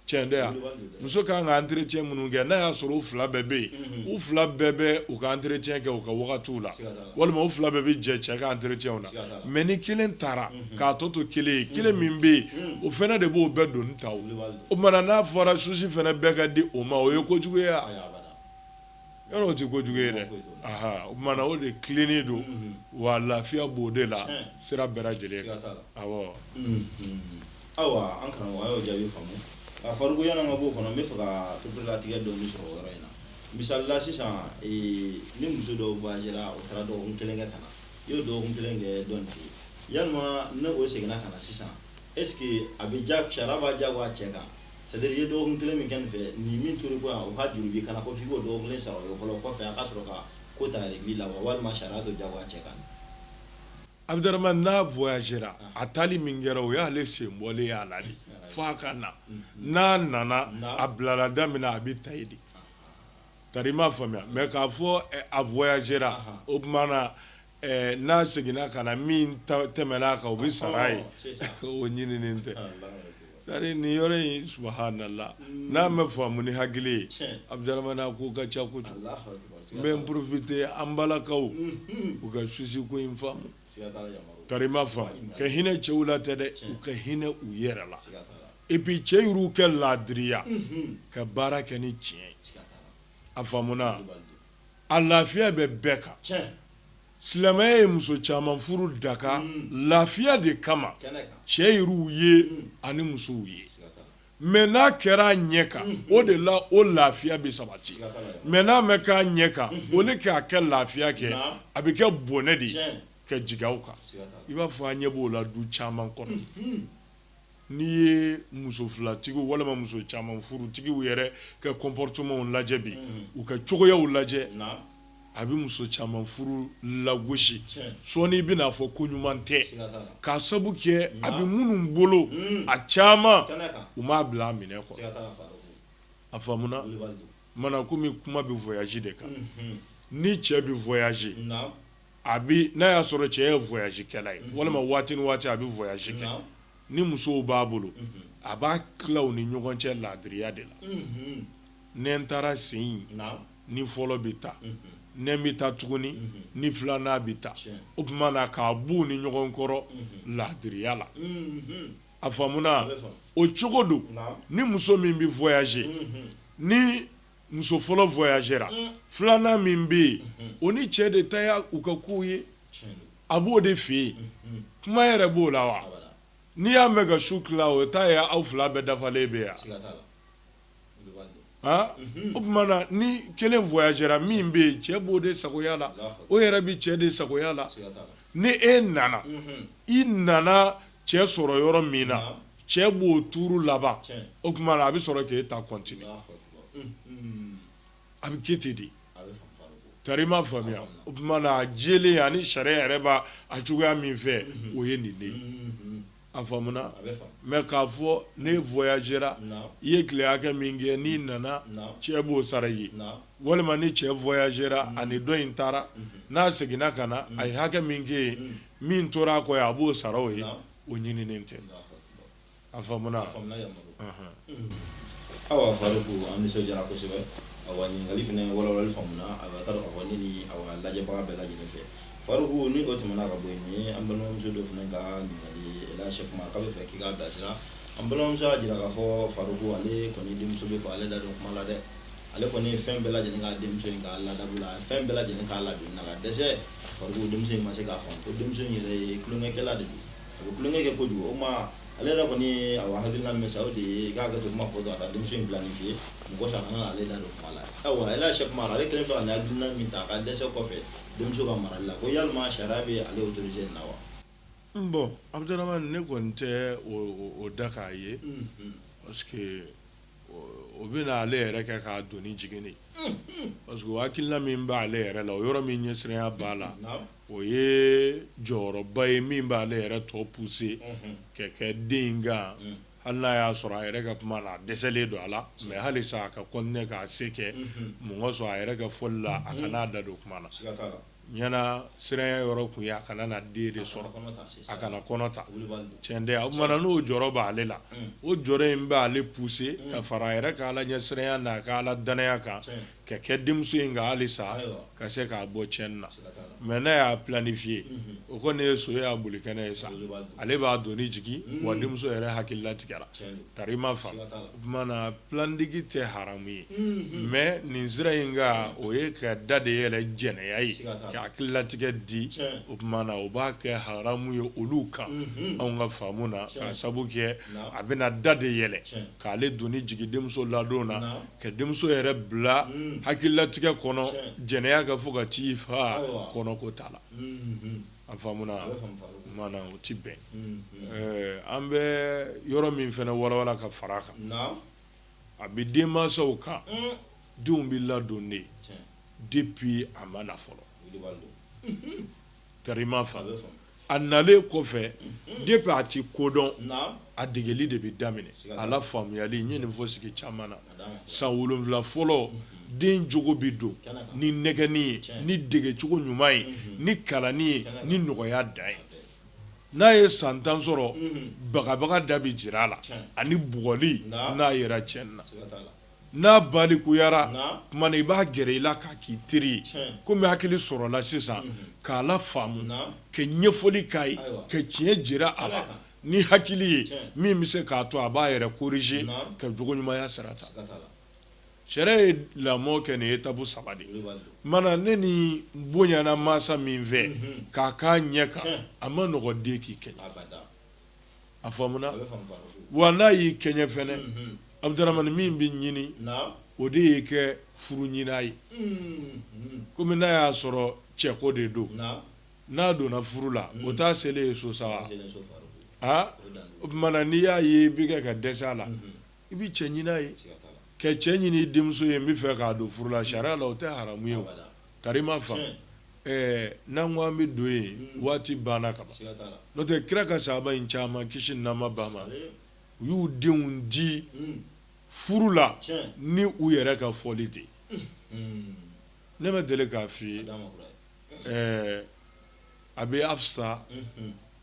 cɛn tɛ yan muso ka kan ka entretien minnu kɛ n'a y'a sɔrɔ u fila bɛɛ bɛ yen u fila bɛɛ bɛ u ka entretien kɛ u ka wagatiw la walima u fila bɛɛ bɛ jɛ cɛ ka entretienw na mais ni kelen taara k'a tɔ to kelen ye kelen min bɛ yen o fana de b'o bɛɛ doni ta o tuma na n'a fɔra susi fana bɛɛ ka di o ma o ye kojugu ye wa Yɔrɔ o tɛ kojugu ye dɛ o tuma o de tilennen don wa lafiya b'o de la sira bɛɛ lajɛlen kan ayiwa an karamɔgɔ an y'o jaabi faamu a farinya ka b'o kɔnɔ n b'a fɛ ka pereperelatigɛ dɔɔni sɔrɔ yɔrɔ in na misali la sisan ni muso dɔ voyagera o taara dɔgɔkun kelen kɛ ka na i y'o dɔgɔkun kelen kɛ dɔ in fɛ yan n'o seginna ka na sisan est-ce que a bɛ ja sariya b'a diyagoya cɛ kan C'est-à-dire i ye dɔgɔkun kelen min kɛ nin fɛ nin min tora kɔ yan o ka juru b'i kan na ko f'i k'o dɔgɔkun kelen sara o ye fɔlɔ kɔfɛ a ka sɔrɔ ka ko ta régler wa walima sariya t'o jagoya cɛ kan Abdurahmane n'a voyagera a taali min kɛra o y'ale sen bɔlen y'a la de fo a ka na n'a nana a bilala da min na a bɛ ta yen de tari i m'a faamuya mais k'a fɔ a voyagera o tuma na N'a seginna ka na min tɛmɛn'a kan o bɛ sara a ye o ɲininen tɛ c'est-à-dire nin yɔrɔ in subhanallah n'a ma faamu ni hakili ye Abdurahmane a ko ka ca kojugu n bɛ n profiter an balakaw u ka susi ko in faamu tari i m'a faamu ka hinɛ cɛw la tɛ dɛ u ka hinɛ u yɛrɛ la et puis cɛ yɛrɛ ka laadiriya ka baara kɛ ni tiɲɛ ye a faamuna a lafiya bɛ bɛɛ kan silamɛya ye muso caman furu daka lafiya de kama cɛ yɛrɛw ye ani musow ye mais n'a kɛra a ɲɛ kan o de la o lafiya bɛ sabati mais n'a ma kɛ a ɲɛ kan o de k'a kɛ lafiya kɛ a bɛ kɛ bɔnɛ de ye ka jigin aw kan i b'a fɔ an ɲɛ b'o la du caman kɔnɔ N'i ye muso filatigiw walima muso caman furutigiw yɛrɛ ka comportementw lajɛ bi u ka cogoyaw lajɛ a bɛ muso caman furu lagosi sɔɔni i bɛn'a fɔ ko ɲuman tɛ k'a sabu kɛ a bɛ minnu bolo a caman u m'a bila a minɛ kɔ a faamuna o tuma na kɔmi kuma bɛ voyage de kan ni cɛ bɛ a bɛ n'a y'a sɔrɔ cɛ ye voyage kɛla ye walima waati ni waati a bɛ voyage kɛ ni musow b'a bolo a b'a tila u ni ɲɔgɔn cɛ laadiriya de la ni n taara sen in ni fɔlɔ bɛ taa ni n bɛ taa tuguni ni filanan bɛ taa o tuma na k'a bɔ u ni ɲɔgɔn kɔrɔ laadiriya la a faamuna o cogo don ni muso min bɛ voyager ni muso fɔlɔ voyagera unh filanan min bɛ yen unhun o ni cɛ de ta ye u ka kow ye tiɲɛ don a b'o de fɛ yen unhun kuma yɛrɛ b'o la wa abada n'i y'a mɛn ka su tila o ta ye aw 2 bɛɛ dafalen bɛ yen a siga t'a la o de b'a dɔn haan unhun o tuma na ni 1 voyagera min bɛ yen cɛ b'o de sagoya la Alahu akibaru o yɛrɛ bi cɛ de sagoya la siga t'a la ni e nana unhun i nana cɛ sɔrɔ yɔrɔ min na naam cɛ b'o tuuru laban o tuma na a bɛ sɔrɔ k'e ta continuer a bɛ kɛ ten de tari n m'a faamuya o tuma na a jɛlen ani sariya yɛrɛ b'a cogoya min fɛ o ye nin de ye a faamuna mais k'a fɔ n'e voyagera i ye tile hakɛ min kɛ n'i nana cɛ b'o sara i ye walima ni cɛ voyagera ani dɔ in taara n'a seginna ka na a ye hakɛ min kɛ yen min tora a kɔ a b'o sara o ye o ɲininen tɛ a faamuna awa Faruku an nisɔndiyara kosɛbɛ awa ɲininkali fana walawalali faamuna awa ka taa dɔn k'a fɔ ne ni awa lajɛbaga bɛɛ lajɛlen fɛ Faruku ni o tɛmɛna ka bɔ yen an balimamuso dɔ fana ka ɲininkali la Sɛki Umaru k'a b'a fɛ k'i k'a bilasira an balimamuso y'a jira k'a fɔ Faruku ale kɔni denmuso bɛ fɔ ale da don kuma la dɛ ale kɔni ye fɛn bɛɛ lajɛlen k'a denmuso in ka ladabu la a ye fɛn bɛɛ lajɛlen k'a ladonni na ka dɛsɛ Faruku denmuso in ma se k'a faamu ko denmuso in yɛrɛ ye tulonkɛkɛla de don a bɛ tulonkɛ kɛ kojugu o ma ale yɛrɛ kɔni ye awa hakilina min ta o de ye k'a hakɛto kuma fɔ a ka denmuso in planifier mɔgɔ si kana ale da don kuma la awa ale Sɛki Umaru ale kelen bɛ ka nin hakilina min ta a ka dɛsɛ kɔfɛ denmuso ka marali la ko yalima sariya bɛ ale autorisé nin na wa bon Abudaramani ne kɔni tɛ o daka a ye parce que o bɛna ale yɛrɛ kɛ k'a doni jigin parce que o hakilila min b'ale yɛrɛ la o yɔrɔ min ɲɛsiranya b'a la o ye jɔyɔrɔba ye min b'ale yɛrɛ tɔ pousser ka kɛ den in kan hali n'a y'a sɔrɔ a yɛrɛ ka kuma na dɛsɛlen don a la mais halisa a ka continuer k'a se kɛ mɔgɔ sɔrɔ a yɛrɛ ka fɔli la a kana da don kuma na Ɲana siranya yɔrɔ kun ye a kana na den de sɔrɔ, a kana kɔnɔ ta, c'est ça, a kana kɔnɔ ta, Kulibali don, tiɲɛ tɛ, o tuma na n'o jɔrɔ b'ale la, un, o jɔrɔ in b'ale pousser un, ka fara a yɛrɛ ka Ala ɲɛsiranya n'a ka Ala danaya kan, tiɲɛ, ka kɛ denmuso in kan halisa, ayiwa, ka se k'a bɔ tiɲɛni na, siga t'a la, mais n'a y'a planifier unhun, o kɔni ye so y'a bolikɛnɛ ye sa, Kulibali don, ale b'a doni jigin, un, wa denmuso yɛrɛ hakilila tigɛra, tiɲɛ don. Tari m'a faamu o tuma na planning tɛ haramu ye mais nin sira in kan o ye ka da de yɛlɛ jɛnɛya ye ka hakililatigɛ di o tuma na o b'a kɛ haramu ye olu kan anw ka faamu na k'a sabu kɛ a bɛna da de yɛlɛ k'ale doni jigi denmuso ladon na ka denmuso yɛrɛ bila hakililatigɛ kɔnɔ jɛnɛya k'a fɔ k'a t'i faa kɔnɔko t'a la An faamu na o tɛ bɛn an bɛ yɔrɔ min fana walawala ka fara a kan a bɛ denmansaw kan denw bɛ ladon de depuis a ma na fɔlɔ tari m'a faamu a nalen kɔfɛ depuis a tɛ ko dɔn a degeli de bɛ daminɛ a la faamuyali n ye nin fɔ sigi caman na san wolonwula fɔlɔ den jogo bɛ don ni nɛgɛni ye ni degecogo ɲuman ye ni kalanni ye ni nɔgɔya da ye n'a ye san tan sɔrɔ bagabaga da bɛ jira a la ani bugɔli n'a yera tiɲɛni na n'a balikuyara tuma na i b'a gɛrɛ i la k'a k'i teri ye kɔmi hakili sɔrɔla sisan k'a lafaamu ka ɲɛfɔli k'a ye ka tiɲɛ jira a la Ni hakili ye min bɛ se k'a to a b'a yɛrɛ corriger ka jogo ɲumanya sira ta sariya ye lamɔ kɛ nin étape saba de ma ni nin bonyana masa min fɛ k'a k'a ɲɛ kan a man nɔgɔ den k'i kɛɲɛ a faamu na wa n'a y'i kɛɲɛ fɛnɛ Abdramani min bɛ ɲini o de ye ka furu ɲin'a ye kɔmi n'a y'a sɔrɔ cɛko de don n'a donna furu la o t'a selen ye so sa wa aa o tuma na n'i y'a ye i bɛ kɛ ka dɛsɛ a la i bɛ cɛ ɲini a ye ka cɛ ɲini i denmuso ye n bɛ fɛ k'a don furu la sariya la o tɛ haramu ye o tari i m'a faamu ɛɛ n'an ko an bɛ don yen waati banna ka ban siga t'a la n'o tɛ kira ka sahaba in caman kisi ni nɛɛma b'a ma ale u y'u denw di furu la tiɲɛ ni u yɛrɛ ka fɔli de ye ne ma deli k'a f'i ye a d'a ma kura ye ɛɛ a bɛ afisa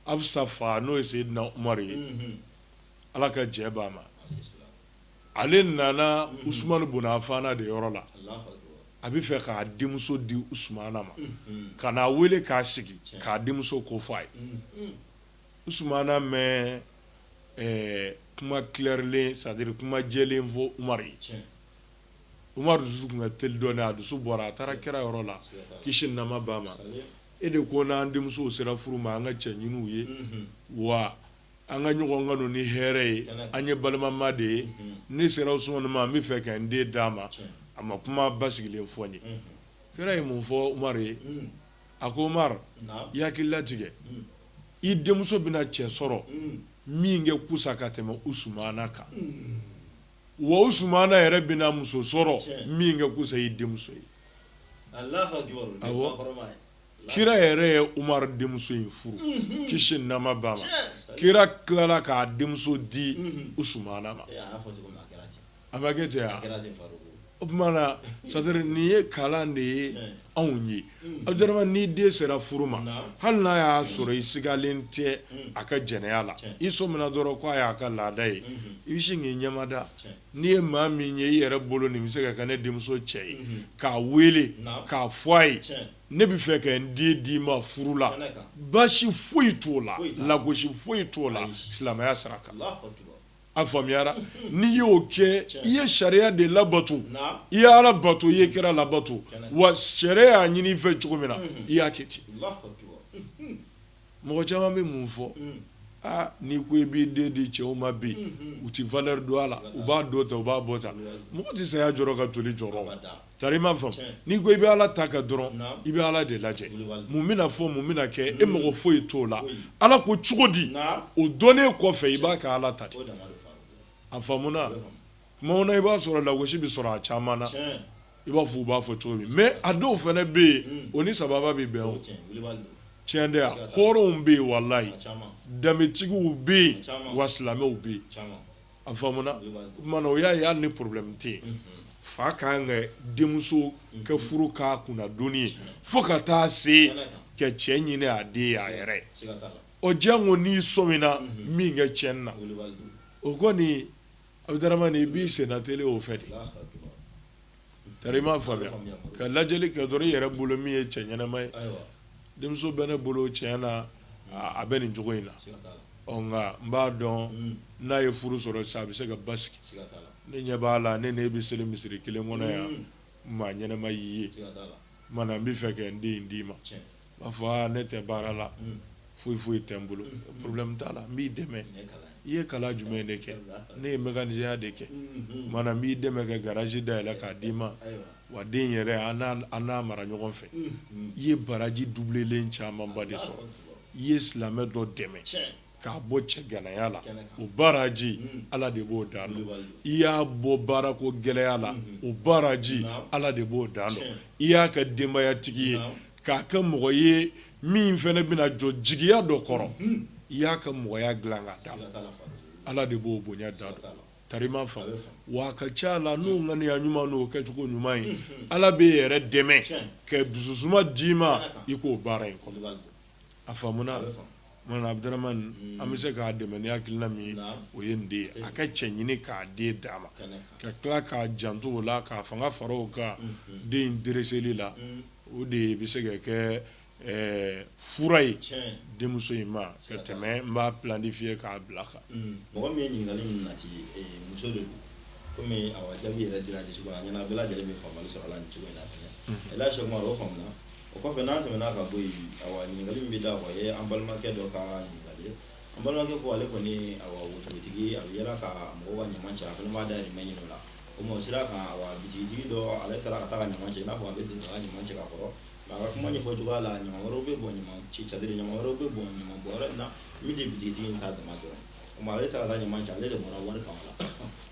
afisa fa n'o ye seyidina umaru ye ala ka jɛ b'a ma ale nana usumanu bun afana de yɔrɔ la a bɛ fɛ k'a denmuso di usumana ma ka n'a weele k'a sigi k'a denmuso ko fɔ a ye usumana ma kuma clairlen c'est-à-dire kuma jɛlen fɔ umaru ye Umaru dusu tun ka teli dɔɔnin a dusu bɔra a taara kira yɔrɔ la kisi ni nɛɛma b'a ma e de ko n'an denmusow sera furu ma an ka cɛ ɲini u ye wa an ka ɲɔgɔn kanu ni hɛrɛ ye an ye balimama de ye ne sera usumani ma n bɛ fɛ ka n den d'a ma a ma kuma basigilen fɔ n ye kira ye mun fɔ umaru ye a ko umaru i hakili latigɛ i denmuso bɛna cɛ sɔrɔ min kɛ kusa ka tɛmɛ usumana kan Wa usumana yɛrɛ bɛna muso sɔrɔ min kɛ kusa i denmuso ye kira yɛrɛ ye umaru denmuso in furu kisi ni nɛɛma b'a ma kira tilala k'a denmuso di usumana ma a cɛ O tuma na c'est-à-dire nin ye kalan de ye anw ye abudaramani ni den sera furu ma hali n'a y'a sɔrɔ i sigalen tɛ a ka jɛnɛya la i sɔmina dɔrɔn ko a y'a ka laada ye i bɛ sin k'i ɲɛmada n'i ye maa min ye i yɛrɛ bolo nin bɛ se ka kɛ ne denmuso cɛ ye k'a weele k'a fɔ a ye ne bɛ fɛ ka n den d'i ma furu la baasi foyi t'o la lagosi foyi t'o la silamɛya sira A faamuyara n'i y'o kɛ i ye sariya de labato i ye ala bato i ye kira labato wa sariya y'a ɲini i fɛ cogo min na i y'a kɛ ten mɔgɔ caman bɛ mun fɔ aa n'i ko i b'i den di cɛw ma bi u tɛ valeur don a la u b'a don tan u b'a bɔ tan mɔgɔ tɛ saya jɔrɔ ka toli jɔrɔ Tari i m'a faamu n'i ko i bɛ ala ta kɛ dɔrɔn i bɛ ala de lajɛ mun bɛna fɔ mun bɛna kɛ e mago foyi t'o la ala ko cogo di o dɔnnen kɔfɛ i b'a kɛ ala ta de a faamuna o tuma na i b'a sɔrɔ lagosi bɛ sɔrɔ a caman na i b'a fɔ u b'a fɔ cogo min mais a dɔw fana bɛ yen o ni saba bɛ bɛn o cɛn de hɔrɔnw bɛ yen walayi danbetigiw bɛ yen wa silamɛw bɛ yen A faamuna o tuma na o y'a ye hali ni problème tɛ fa ka kan k'a denmuso ka furu k'a kunna doni ye fo ka taa se ka cɛ ɲini a den ye a yɛrɛ o jango n'i sɔmina min kɛ cɛn na o kɔni abudaramani i b'i senna teli o fɛ de i m'a faamuya ka lajɛli kɛ dɔrɔn i yɛrɛ bolo min ye cɛ ɲɛnama ye denmuso bɛ ne bolo tiɲɛ na a bɛ nin cogo in na nka n b'a dɔn n'a ye furu sɔrɔ sa a bɛ se ka basigi ne ɲɛ b'a la ne n'e bɛ seli misiri kelen kɔnɔ yan maa ɲɛnama y'i ye mana n b'a fɛ ka n den d'i ma b'a fɔ aa ne tɛ baara la foyi foyi tɛ n bolo problème t'a la n b'i dɛmɛ i ye kalan jumɛn de kɛ ne ye mécanicienya de kɛ mana n b'i dɛmɛ ka garage dayɛlɛ k'a d'i ma wa den yɛrɛ an n'a mara ɲɔgɔn fɛ i ye baraji doublelen camanba de sɔrɔ i ye silamɛ dɔ dɛmɛ K'a bɔ cɛganaya la o baraji ala de b'o dan dɔn i y'a bɔ baarako gɛlɛya la o baraji ala de b'o dan dɔn i y'a kɛ denbayatigi ye k'a kɛ mɔgɔ ye min fɛnɛ bɛna jɔ jigiya dɔ kɔrɔ i y'a ka mɔgɔya dilan ka d'a ma ala de b'o bonya dan dɔn tari i m'a faamu wa a ka ca la n'o ŋaniya ɲuman n'o kɛcogo ɲuman ye ala b'e yɛrɛ dɛmɛ ka dususuma d'i ma i k'o baara in A faamuna mana Abudaramani an bɛ se k'a dɛmɛ ni hakilina min o ye nin de a ka cɛ ɲini k'a den d'a ma ka tila k'a janto o la k'a fanga fara o kan den in dereseli la o de bɛ se ka kɛ fura ye denmuso in ma ka tɛmɛ n b'a planifier k'a bila kan mɔgɔ min ye ɲininkali in nati muso de don kɔmi jaabi yɛrɛ dira cogo min na ɲɛna bɛɛ lajɛlen bɛ faamali sɔrɔ a la nin cogo in na Seku Umaru o faamuna O kɔfɛ n'an tɛmɛna ka bɔ yen, awa, ɲininkali min bɛ da o ye an balimakɛ dɔ ka ɲininkali ye. An balimakɛ ko ale kɔni ye, awa, wotorotigi ye, a bɛ yaala ka mɔgɔw ka ɲaman cɛ, a fana b'a dahirimɛ ɲini o la. O tuma o sira kan, awa, bitigitigi dɔ ale taara ka taa ka ɲaman cɛ, i n'a fɔ a bɛ don ka ɲaman cɛ ka kɔrɔ. Nka a ka kuma ɲɛfɔ cogoya la, ɲaman wɛrɛw bɛ bɔn ɲaman cɛ, c'est à dire ɲaman wɛrɛw bɛ bɔn ɲaman bɔn yɔrɔ in na min tɛ bitigitigi in ta dama dɔrɔn ye. O tuma ale taara ka taa ɲaman cɛ, ale de bɔra wari kan o la.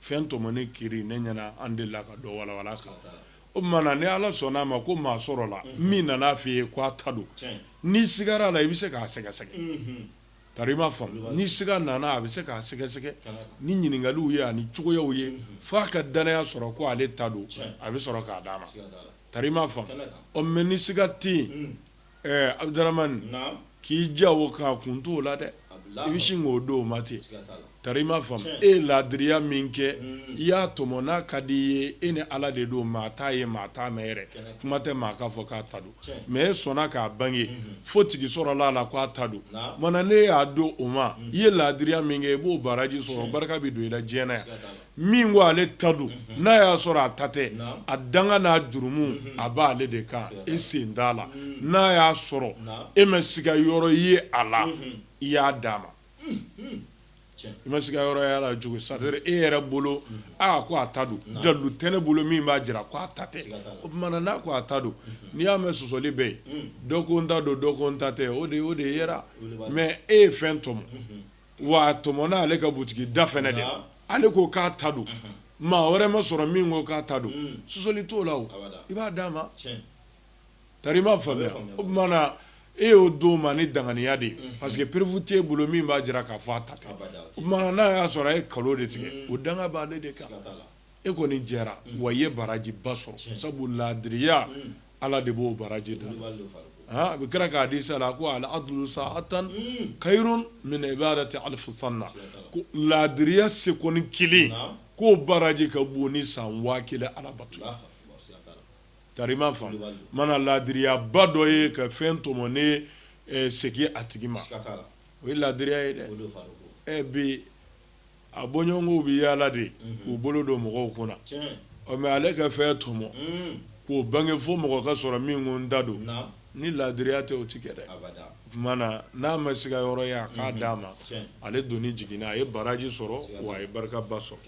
Fɛn tɔmɔnen kiiri ne ɲɛna an delila ka dɔ walawala kan o tuma ni ala sɔnna a ma ko maa sɔrɔla min nana a fɔ i ye k'a ta don n'i sigara a la i bɛ se k'a sɛgɛsɛgɛ tari i m'a faamu ni siga nana a bɛ se k'a sɛgɛsɛgɛ ni ɲininkaliw ye ani cogoyaw ye fo a ka dannaya sɔrɔ ko ale ta don a bɛ sɔrɔ k'a d'a ma tari i m'a faamu mais ni siga tɛ ɛɛ Abudaramani, naamu, k'i ja o kan a kun t'o la dɛ, i bɛ sin k'o d'o ma ten, siga t'a la, tari i m'a faamu, tiɲɛ, e ye laadiriya min kɛ, i y'a tɔmɔ n'a ka d'i ye, e ni Ala de don, maa t'a ye, maa t'a mɛn yɛrɛ, kuma tɛ maa k'a fɔ k'a ta don, tiɲɛ, mais e sɔnna k'a bange, fo tigi sɔrɔla a la k'a ta don, naamu, o tuma na n'e y'a d'o ma, i ye laadiriya min kɛ, i b'o baraji sɔrɔ, tiɲɛ, barika bɛ don i la diɲɛ na yan, siga t'a la. min ko ale ta don n'a y'a sɔrɔ a ta tɛ a danga n'a jurumu a b'ale de kan e sen t'a la n'a y'a sɔrɔ e ma siga yɔrɔ ye a la i y'a d'a ma i ma siga yɔrɔ y'a la cogo c'est-à-dire e yɛrɛ bolo aa ko a ta don dalu tɛ ne bolo min b'a jira ko a ta tɛ o tuma na n'a ko a ta don n'i y'a mɛn sɔsɔli bɛ yen dɔ ko n ta don dɔ ko n ta tɛ o de yera mais e ye fɛn tɔmɔ wa a tɔmɔna ale ka butigi da fɛnɛ de ale ko k'a ta don maa wɛrɛ ma sɔrɔ min ko k'a ta don sɔsɔli t'o la i b'a d'a ma tari i m'a faamuya o tuma na e y'o d'o ma ni danganiya de ye parce que preuve t'e bolo min b'a jira k'a fɔ a ta tɛ o tuma na n'a y'a sɔrɔ a ye kalon de tigɛ o danga b'ale de kan e kɔni jɛra wa i ye baraji ba sɔrɔ sabu laadiriya Ala de b'o baraji da a bɛ kira ka hadisa la ko al adlu sa'atan khairun min ibadati alf sana ko laadiriya sekɔni kelen k'o baraji ka bon ni san waa kelen alabato tari i m'a faamu mana laadiriya ba dɔ ye ka fɛn tɔmɔnen segin a tigi ma o ye laadiriya ye dɛ bi A bɔɲɔgɔnw bɛ yaala de k'u bolo don mɔgɔw kunna ɔ mais ale ka fɛn tɔmɔ k'o bange fo mɔgɔ ka sɔrɔ min ko n ta don ni laadiriya tɛ o tɛ kɛ dɛ tuma na n'a ma siga yɔrɔ ye a k'a d'a ma ale doni jiginna a ye baraji sɔrɔ wa a ye barika ba sɔrɔ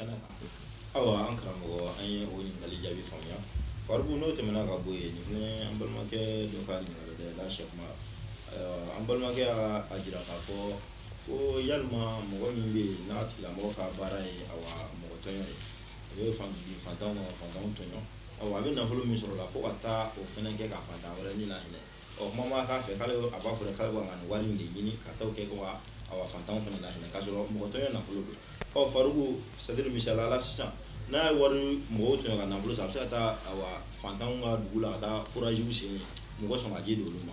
Ko yalima mɔgɔ min bɛ yen n'a tigilamɔgɔ ka baara ye mɔgɔ tɔɲɔ ye a bɛ fantanw tɔɲɔ a bɛ nafolo min sɔrɔ la ko ka taa o fana kɛ ka fantan wɛrɛ ni lahinɛ ɔ tuma b'a k'a fɛ k'ale a b'a fɔ k'ale b'a ka wari de ɲini ka taa o kɛ ka fantanw fana lahinɛ k'a sɔrɔ mɔgɔ tɔɲɔ nafolo don ɔ faribu c'est-à-dire misali la sisan n'a ye wari mɔgɔw tɔɲɔ ka nafolo sɔrɔ a bɛ se ka taa fantan ka dugu la ka taa forajiw sen mɔgɔ samaji d'olu ma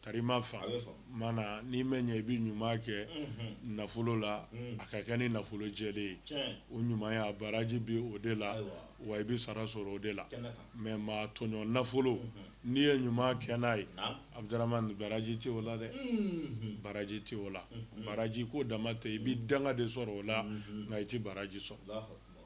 Tari i m'a faamu mana n'i ma ɲɛ i bɛ ɲuman kɛ nafolo la a ka kɛ ni nafolo jɛlen ye o ɲumanya baraji bɛ o de la wa i bɛ sara sɔrɔ o de la mais maa tɔɲɔ nafolo n'i ye ɲuman kɛ n'a ye Abdramane baraji tɛ o la dɛ baraji tɛ o la baraji ko dama tɛ i bɛ danga de sɔrɔ o la nka i tɛ baraji sɔrɔ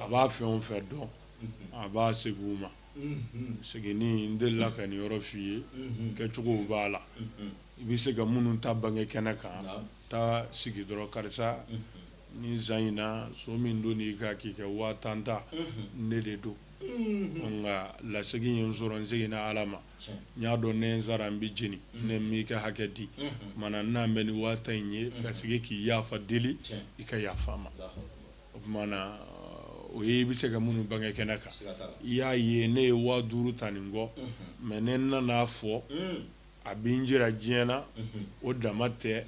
a b'a fɛn o fɛn dɔn a b'a segin u ma seginni n delila ka nin yɔrɔ f'i ye kɛcogow b'a la i bɛ se ka minnu ta bange kɛnɛ kan taa sigi dɔrɔn karisa nin san in na son min donna i kan k'i ka waa tan ta ne de don nka lasegin ye n sɔrɔ n seginna ala ma n y'a dɔn ni n sara n bɛ jeni ne m'i ka hakɛ di mana n'an bɛ nin waa tan in ye ka segin k'i yaafa deli i ka yaafa n ma o tuma na o ye i bɛ se ka minnu bange kɛnɛ kan i y'a ye ne ye waa duuru ta nin kɔ mɛ ne nana a fɔ a bɛ n jira diɲɛ na o dama tɛ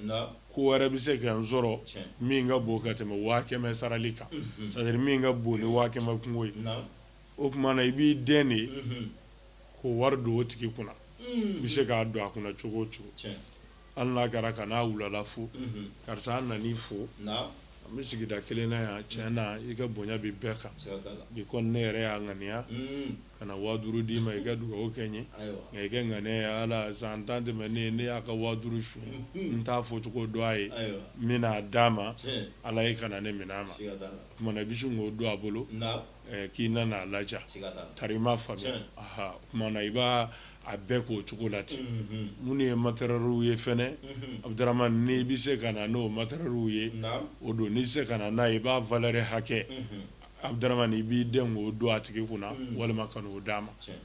ko wɛrɛ bɛ se ka n sɔrɔ min ka bon ka tɛmɛ waa kɛmɛ sarali kan sadiri min ka bon ni waa kɛmɛ kunko ye o tuma na i b'i dɛn de k'o wari don o tigi kunna i bɛ se k'a don a kunna cogo o cogo hali n'a kɛra ka n'a wula la fo karisa an nan'i fo an bɛ sigida kelen na yan tiɲɛ na i ka bonya bɛ bɛɛ kan bi kɔni ne yɛrɛ y'a ŋaniya ka na waa duuru d'i ma i ka dugawu kɛ n ye nka i ka ŋaniya ye ala san tan tɛmɛnen ne y'a ka waa duuru suɲɛ n t'a fɔ cogo dɔn a ye n bɛna a d'a ma ala ye kana ne minɛ a ma o tuma na i bɛ sin k'o don a bolo K'i nana a laja tari i m'a faamuya o tuma na i b'a a bɛɛ k'o cogo la ten minnu ye materiyɛliw ye fɛnɛ Abdramane n'i bɛ se ka na n'o materiyɛliw ye o don n'i tɛ se ka na n'a ye i b'a valɛri hakɛ Abdramane i b'i dɛn k'o don a tigi kunna walima ka n'o d'a ma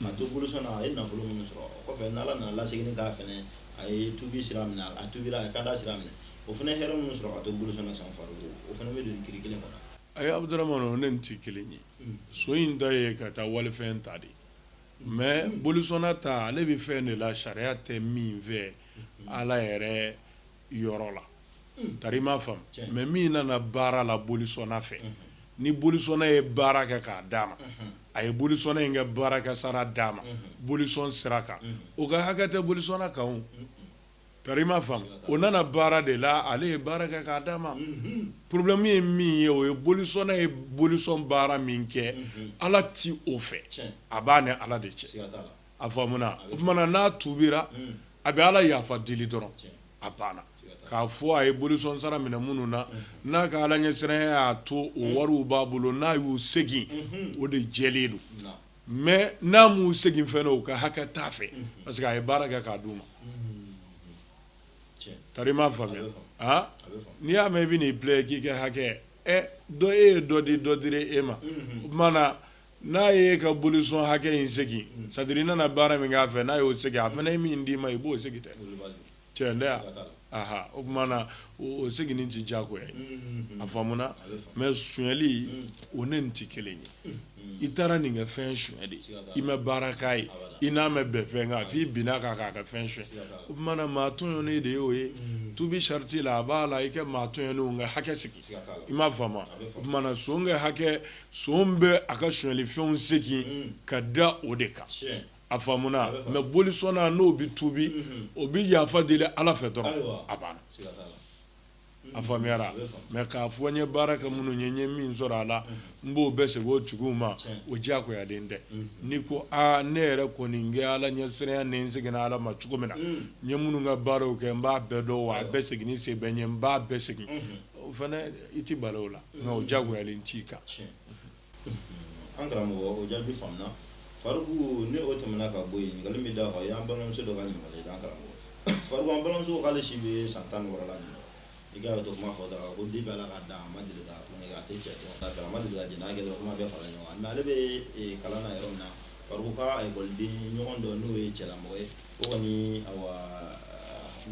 Ka to bolisɔn na a ye nafolo minnu sɔrɔ o kɔfɛ ni ala nana a lasegin k'a fana a ye tubi sira minɛ a tubira a ye kanda sira minɛ o fana hɛrɛ minnu sɔrɔ ka to bolisɔn na san Faruku o fana bɛ don kiiri kelen kɔnɔ ayi Abdramane o ni nin tɛ kelen ye son in ta ye ka taa walifɛn ta de mɛ bolisɔnna ta ale bɛ fɛn de la sariya tɛ min fɛ ala yɛrɛ yɔrɔ la tari i m'a faamu mɛ min nana baara la bolisɔnna fɛ ni bolisɔnna ye baara kɛ k'a d'a ma a ye bolisɔnna in ka baarakɛsara d'a ma bolisɔn sira kan o ka hakɛ tɛ bolisɔnna kan tari i m'a faamu o nana baara de la ale ye baara kɛ k'a d'a ma porobilɛmu ye min ye o ye bolisɔnna ye bolisɔn baara min kɛ ala tɛ o fɛ a b'a ni ala de cɛ a faamuna o tumana n'a tuubira a bɛ Ala yafa deli dɔrɔn a banna k'a fɔ a ye bolisɔnsara minɛ minnu na n'a ka Alaɲɛsiranya y'a to o wariw b'a bolo n'a y'u segin o de jɛlen don mais n'a m'u segin fɛnɛ o ka hakɛ t'a fɛ parce que a ye baara kɛ k'a d'u ma tari i m'a faamuya aa n'i y'a mɛn i bɛ n'i plaît k'i ka hakɛ ɛ dɔ e ye dɔ di dɔ dira e ma o tumana N'a ye ka bolisɔn hakɛ in segin sadiri i nana baara min k'a fɛ n'a y'o segin a fana ye min d'i ma i b'o segin dɛ tiɲɛ tɛ aa o tuma na o seginni tɛ jagoya ye a faamuya mɛ sonyali o ni nin tɛ kelen ye i taara nin ka fɛn sonya de i ma baara k'a ye i n'a ma bɛn fɛn kan f'i binna a kan k'a ka fɛn sonya o tuma na maa tɔɲɔnen de y'o ye tuubi sarati la a b'a la i ka maa tɔɲɔnenw ka hakɛ segin i m'a faamu o tuma na son hakɛ son bɛ a ka sonyali fɛnw segin ka da o de kan a faamuna mais bolisɔnna n'o bɛ tubi o bɛ yafa deli ala fɛ dɔrɔn a banna a faamuyara mais k'a fɔ n ye baara kɛ minnu ye n ye min sɔrɔ a la n b'o bɛɛ segin o tigiw ma o diyagoyalen tɛ n'i ko aa ne yɛrɛ kɔni n kɛ ala ɲɛsiran ni n seginna ala ma cogo min na n ye minnu ka baaraw kɛ n b'a bɛɛ dɔn wa a bɛɛ segin se bɛ n ye n b'a bɛɛ segin O fana i tɛ bali o la nka diyagoyalen t'i kan an karamɔgɔ o jaabi faamuya Faruku n'o tɛmɛna ka bɔ yen ɲininkali min da kan o y'an balimamuso dɔ ka ɲininkali ye an karamɔgɔ Faruku an balimamuso k'ale si bɛ san tan ni wɔɔrɔ la i ka dɔn kuma fɔ dɔrɔn ko depuis Ala k'a dan a ma deli ka tulon kɛ a tɛ cɛ dɔn a ma deli ka jɛnɛya kɛ dɔrɔn kuma bɛɛ fara ɲɔgɔn kan mais ale bɛ kalan na yɔrɔ min na Faruku a ka ekɔliden ɲɔgɔn dɔ n'o ye cɛlamɔgɔ ye o kɔni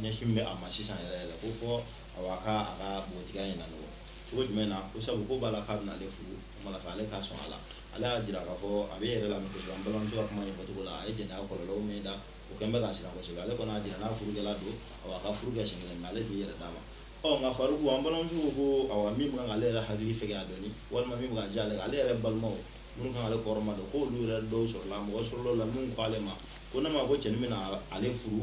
ɲɛsin bɛ a ma sisan yɛrɛ yɛrɛ ko fɔ Awa a ka a ka npogotigiya in lanɔgɔ. Cogo jumɛn na? Ko sabu ko b'a la k'a bɛna ale furu, o tuma na k'ale ka sɔn a la. Ale y'a jira k'a fɔ a bɛ e yɛrɛ lamɛn kosɛbɛ. An balimamuso ka kuma ɲɛfɔcogo la, a ye jɛnɛya kɔlɔlɔw min da, o kɛn bɛ k'a siran kosɛbɛ. Ale kɔni y'a jira n'a furukɛla don, awa a ka furu kɛ siɲɛ kelen, nka ale t'i yɛrɛ d'a ma. Ɔ nka Faruku, an balimamuso ko ko awa min bɛ kan k'ale yɛrɛ hakili fɛgɛya dɔɔni, walima min bɛ ka jɛ ale kan, ale yɛrɛ balimaw minnu kan k'ale kɔrɔmadon, ko olu yɛrɛ dɔw sɔrɔla mɔgɔ sɔrɔla u la minnu ko ale ma ko ne m'a ko cɛnin bɛna ale furu,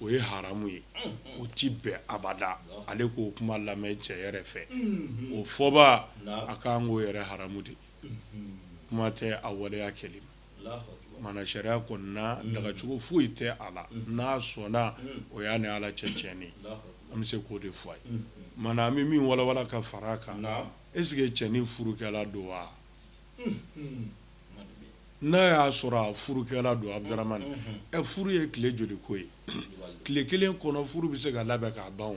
o ye haramu ye o tɛ bɛn abada ale k'o kuma lamɛn cɛ yɛrɛ fɛ o fɔ b'a kan k'o yɛrɛ haramu de kuma tɛ a waleya kɛli ma mana sariya kɔni na dagacogo foyi tɛ a la n'a sɔnna o y'a ni ala cɛ tiɲɛni an bɛ se k'o de fɔ a ye mana an bɛ min walawala ka fara a kan est-ce que cɛnin furukɛla don wa n'a y'a sɔrɔ a furukɛla don Abduramani ɛ furu ye tile joli ko ye tile kelen kɔnɔ furu bɛ se ka labɛn k'a ban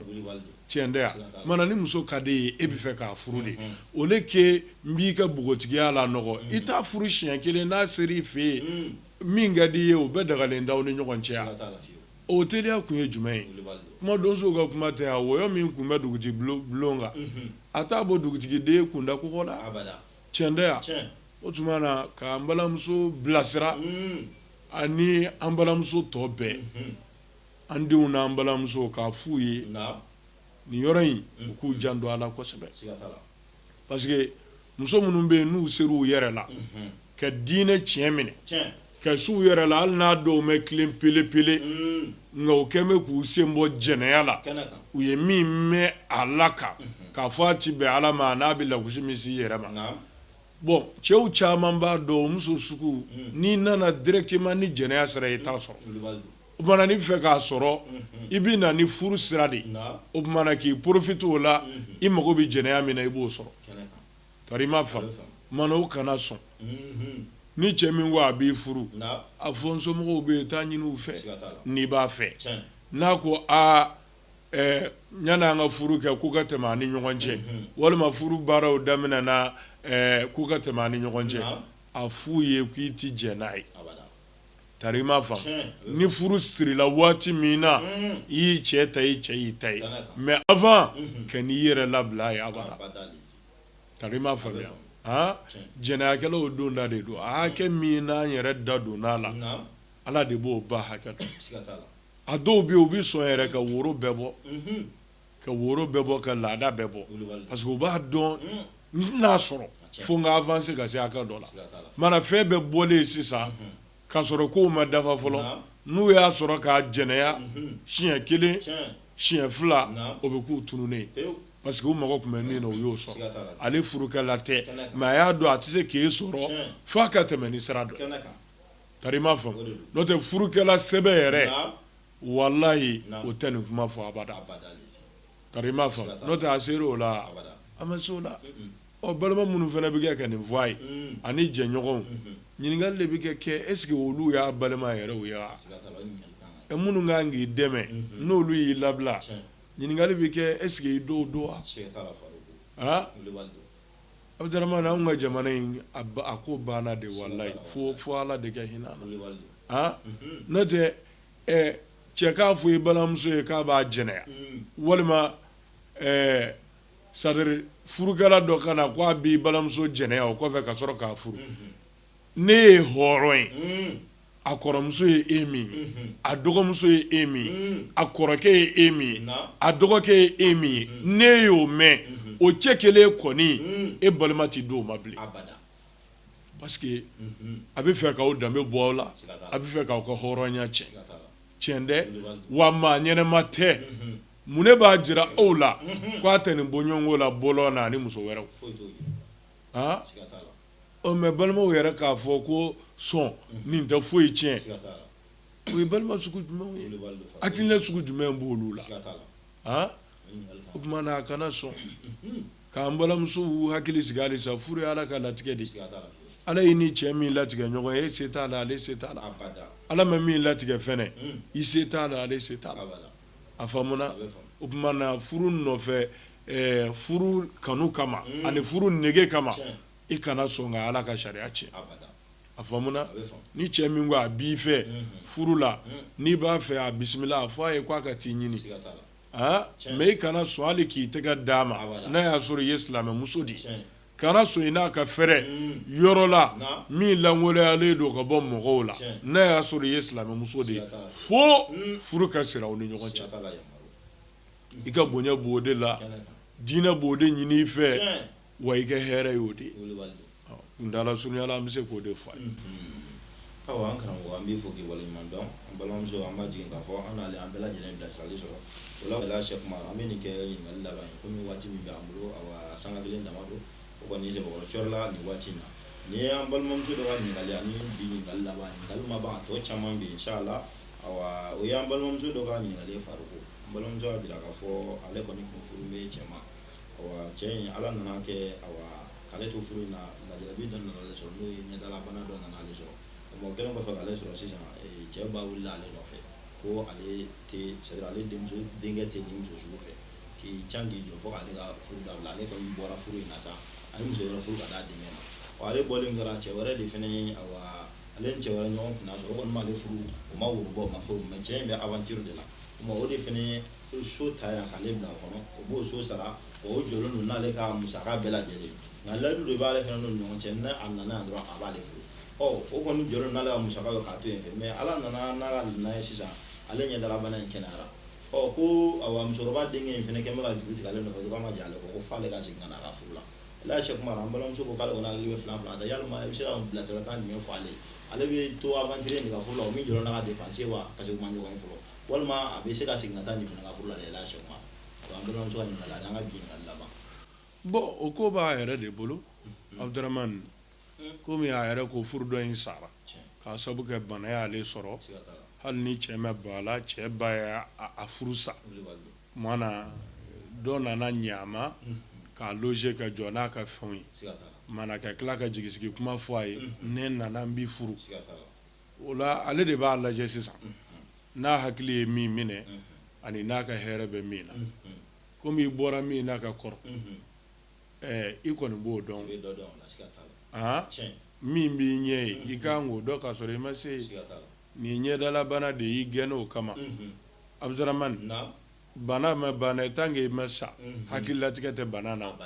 cɛn tɛ ya mana ni muso ka di i ye e b'a fɛ k'a furu de au lieu que n b'i ka npogotigiya lanɔgɔ i t'a furu siɲɛ kelen n'a sera i fɛ yen min ka di i ye o bɛɛ dagalen t'aw ni ɲɔgɔn cɛ O teliya kun ye jumɛn ye kuma donsow ka kuma tɛ ya wɔyɔ min kun bɛ dugutigi bulon kan a t'a bɔ dugutigiden kun da kogo la cɛn tɛ ya o tuma na ka an balimamuso bilasira ani an balimamuso tɔ bɛɛ an denw n'an balimamuso k'a f'u ye nin yɔrɔ in u k'u janto a la kosɛbɛ parce que muso minnu bɛ yen n'u sera u yɛrɛ la ka diinɛ tiɲɛ minɛ ka se u yɛrɛ la hali n'a dɔw ma tilen pelepele nka u kɛlen bɛ k'u sen bɔ jɛnɛya la u ye min mɛn ala kan k'a fɔ a tɛ bɛn ala ma n'a bɛ lagosi min si yɛrɛ man bon cɛw caman b'a dɔn muso sugu n'i nana directement ni jɛnɛya sira ye i t'a sɔrɔ o tuma na n'i bɛ fɛ k'a sɔrɔ i bɛ na ni furu sira de o tuma na k'i profite o la i mago bɛ jɛnɛya min na i b'o sɔrɔ tari i m'a faamu o kana sɔn ni cɛ min ko a b'i furu a fɔ n somɔgɔw bɛ yen taa ɲini u fɛ n'i b'a fɛ n'a ko aa ɲ an ka furu kɛ k'u ka tɛmɛ an ni ɲɔgɔn cɛ walima furu baaraw daminɛ na k'u ka tɛmɛ an ni ɲɔgɔn cɛ a f'u ye k'i tɛ jɛn n'a ye tari i m'a faamu ni furu sirila waati min na i y'i cɛ ta i cɛ y'i ta ye mais avant kan'i yɛrɛ labila a ye abada tari i m'a faamuya jɛnɛyakɛlaw o don da de don a hakɛ min n'an yɛrɛ da donn'a la ala de b'o ba hakɛ dɔn a dɔw bɛ u bɛ sɔn yɛrɛ ka woro bɛɛ bɔ ka woro bɛɛ bɔ ka laada bɛɛ bɔ parce que u b'a dɔn n'a sɔrɔ fo n k'avancer ka se hakɛ dɔ la mana fɛn bɛɛ bɔlen sisan k'a sɔrɔ kow ma dafa fɔlɔ n'u y'a sɔrɔ k'a jɛnɛya siɲɛ kelen siɲɛ fila o bɛ k'u tununnen parce que u mago tun bɛ min na u y'o sɔrɔ ale furukɛla tɛ mais a y'a dɔn a tɛ se k'i sɔrɔ fo a ka tɛmɛ ni sira dɔ tari i m'a faamu n'o tɛ furukɛla sɛbɛn yɛrɛ walayi o tɛ nin kuma fɔ abada tari i m'a faamu n'o tɛ a sera o la a ma se o la balima minnu fana bɛ kɛ ka nin fɔ a ye ani jɛɲɔgɔnw ɲininkali de bɛ kɛ est-ce que olu y'a balima yɛrɛw ye wa minnu kan k'i dɛmɛ n'olu y'i labila ɲininkali bɛ kɛ est-ce que i dɔw don wa Abdurahmane anw ka jamana in a ko banna de walayi fo fo ala de ka hinɛ an na n'o tɛ ɛ cɛ k'a fɔ i balimamuso ye k'a b'a jɛnɛya walima ɛ c'est à dire furukɛla dɔ ka na ko a b'i balimamuso jɛnɛya o kɔfɛ ka sɔrɔ k'a furu ne ye hɔrɔn ye a kɔrɔmuso ye e min ye a dɔgɔmuso ye e min ye a kɔrɔkɛ ye e min ye a dɔgɔkɛ ye e min ye ne y'o mɛn o cɛ kelen kɔni e balima tɛ di o ma bilen parce que a bɛ fɛ k'aw danbe bɔ aw la a bɛ fɛ k'aw ka hɔrɔnya cɛn cɛn dɛ wa maa ɲɛnɛma tɛ mun ne b'a jira aw la k' a tɛ nin bɔɲɔgɔnko la bɔ na ani muso wɛrɛw aa ɔ mais balimaw yɛrɛ k'a fɔ ko sɔn nin tɛ foyi tiɲɛ o ye balima sugu jumɛn hakilina sugu jumɛn b' olu la o tuma na a kana sɔn k'an balimamuso hakili sigi halisa furu ye Ala ka latigɛ de ye, siga t'a la, Ala ye i ni cɛ min latigɛ ɲɔgɔn ye e se t'a la ale se t'a la, abada, Ala ma min latigɛ fɛnɛ i se t'a la ale se t'a la, abada, a faamuna, a bɛ faamu, o tuma na furu nɔfɛ ɛɛ furu kanu kama ani furu nege kama, tiɲɛ, i kana sɔn ka Ala ka sariya tiɲɛ, abada, a faamuna, a bɛ faamu, ni cɛ min ko a b'i fɛ furu la n'i b'a fɛ a bisimila a fɔ a ye k'a ka t'i ɲini, siga t'a la. aa mais i kana sɔn hali k'i tɛgɛ d'a ma, abada, n'a y'a sɔrɔ i ye silamɛ muso de ye, tiɲɛ, kana sɔn i n'a ka fɛrɛ, un, yɔrɔ la, naamu, min lankoloyalen don ka bɔ mɔgɔw la, tiɲɛ, n'a y'a sɔrɔ i ye silamɛ muso de ye, siga t'a la, fo, un, furu ka siri aw ni ɲɔgɔn cɛ, siga t'a la, yamaru, i ka bonya b'o de la, kɛnɛ kan, diinɛ b'o de ɲini i fɛ, tiɲɛ. wa i ka hɛrɛ ye o de ye kundala surunya la an bɛ se k'o de fɔ a ye awa an karamɔgɔ an b'i fo k'i waleɲuman dɔn an balimamuso an b'a jigi k'a fɔ an an bɛɛ lajɛlen bilasirali sɔrɔ o la wala Sɛki Umaru an bɛ nin kɛ ɲininkali laban ye komi waati min b'an bolo awa sanga kelen dama don o kɔni sɛbɛkɔrɔ cɔri la nin waati in na nin y'an balimamuso dɔ ka ɲininkali ani bi ɲininkali laban ɲininkali ma ban a tɔ caman bɛ yen inshallah awa o y'an balimamuso dɔ ka ɲininkali Faruku an balimamuso y'a jira k'a fɔ ale kɔni kun furu bɛ cɛ cɛ in ala nana kɛ k'ale to furu in na lajarabi dɔ nana ale sɔrɔ n'o ye ɲɛdalabana dɔ nana ale sɔrɔ o kɛlen kɔfɛ k'ale sɔrɔ sisan cɛ ba wulila ale nɔfɛ ko ale ale denmuso denkɛ tɛ nin muso sugu fɛ k'i can k'i jɔ fo k'ale ka furu dabila ale kɔni bɔra furu in na sa a ye muso wɛrɛ furu ka d'a denkɛ ma ale bɔlen kɛra cɛ wɛrɛ de fana ye ale ni cɛ wɛrɛ ɲɔgɔn kunna sɔrɔ o kɔni m'ale furu o ma woro bɔ o ma fɛn cɛ in bɛ aventure de la o de fana So ta yan k'ale bila o kɔnɔ o b'o so sara o jɔlen don n'ale ka musaka bɛɛ lajɛlen nka layidu de b'ale fana n'o ɲɔgɔn cɛ n'a nana yan dɔrɔn a b'ale furu ɔ o kɔni jɔlen n'ale ka musaka ye k'a to yen fɛ mais ala nana n'a ka na ye sisan ale ɲɛdalabana in kɛnɛyara ɔ ko awa musokɔrɔba denkɛ in fana kɛ bɛka ka juru tigɛ ale nɔfɛ dɔrɔn ma diya ale ko f'ale ka segin ka na a ka furu la ala ye Sɛki Umaru an balimamuso ko k'ale kɔni hakili bɛ fila fila la yala i bɛ se ka bilasiralikan jumɛn fɔ ale ale bɛ to aventure nin ka furu la o min jɔlen n'a ka dépense wa k'u ma ɲɔgɔn fɔlɔ walima a bɛ se ka segin ka taa nin fana ka furu la ala ye Sɛki Umaru an balimamuso ka ɲininkali ani an ka bi ɲininkali laban bɔn o ko b'a yɛrɛ de bolo Abuduramani komi a yɛrɛ ko furu dɔ in sara k'a sabu kɛ bana y'ale sɔrɔ hali ni cɛ ma ban a la cɛ ba ye a furu sa maana dɔ nana ɲa a ma k'a loger ka jɔ n'a ka fɛnw ye maana ka tila ka jigi sigi kuma fɔ a ye ne nana n b'i furu o la ale de b'a lajɛ sisan n'a hakili ye min minɛ ani n'a ka hɛrɛ bɛ min na komi i bɔra min na ka kɔrɔ i kɔni b'o dɔn min b'i ɲɛ ye i kan k'o dɔn k'a sɔrɔ i ma se nin ɲɛdalabana de y'i gɛn o kama abudramani bana ma ban tant que i ma sa hakili latigɛ tɛ bana na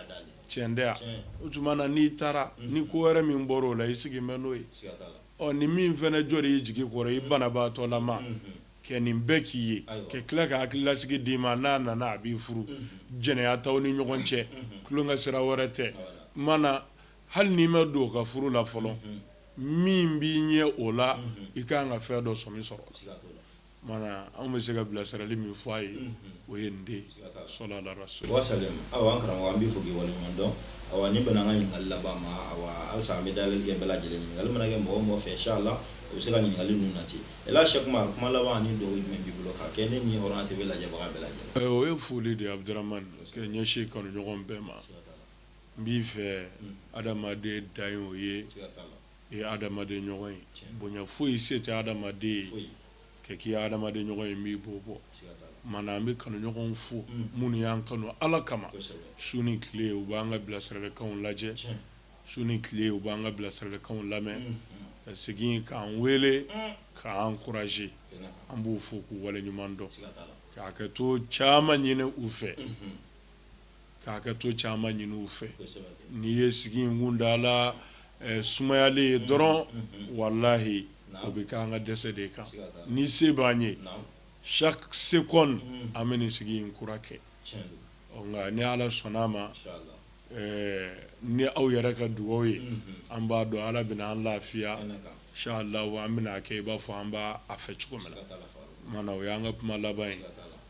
tiɲɛ tɛ o tuma na n'i taara ni ko wɛrɛ min bɔra o la i sigi bɛ n'o ye Ɔ ni min fana jɔra i jigi kɔrɔ i banabaatɔlama ka nin bɛɛ k'i ye ka tila ka hakililasigi d'i ma n'a nana a b'i furu jɛnɛya t'aw ni ɲɔgɔn cɛ tulonkɛ sira wɛrɛ tɛ mana hali n'i ma don ka furu la fɔlɔ min b'i ɲɛ o la i ka kan ka fɛn dɔ sɔmi sɔrɔ anw bɛ se ka bilasirali min fɔ a ye o ye nin de ye wasalam awa an karamɔgɔ an b'i fo k'i waleɲuman dɔn awa nin bɛnna an ka ɲininkali laban ma halisa an bɛ dayɛlɛli kɛ bɛɛ lajɛlen ɲininkali mana kɛ mɔgɔ o mɔgɔ fɛ inchallah o bɛ se ka ɲininkali ninnu nati ɛlɛ sɛki umaru kuma laban ni dugaw jumɛn b'i bolo ka kɛ ne ni hɔrɔnya TV lajɛbaga bɛɛ lajɛlen o ye foli de ye abudramani ka ɲɛsin kanuɲɔgɔn bɛɛ ma n b'i fɛ adamaden da o ye e ye adamaden ɲɔgɔn ye bonya foyi se tɛ adamaden ye ka k'i adamaden ɲɔgɔn ye min b'o bɔ mana an bɛ kanuɲɔgɔn fo mm. minnu y'an kanu ala kama su ni tile u b'an ka bilasiralikanw lajɛ su ni tile u b'an ka bilasiralikanw lamɛn mm, mm. ka segin k'an wele k'an encourager an b'u fo k'u waleɲuman dɔn ka hakɛto caman ɲini u fɛ ka hakɛto caman ɲini u fɛ n'i ye sigi in kuntaala sumayalen ye dɔrɔn walayi o bɛ kɛ an ka dɛsɛ de kan ni se b'an ye chaque seconde an bɛ nin sigi in kura kɛ nka ni ala sɔnna a ma ni aw yɛrɛ ka dugaw ye an b'a dɔn ala bɛna an lafiya inchallah an bɛna a kɛ i b'a fɔ an b'a fɛ cogo min na mana o y'an ka kuma laban ye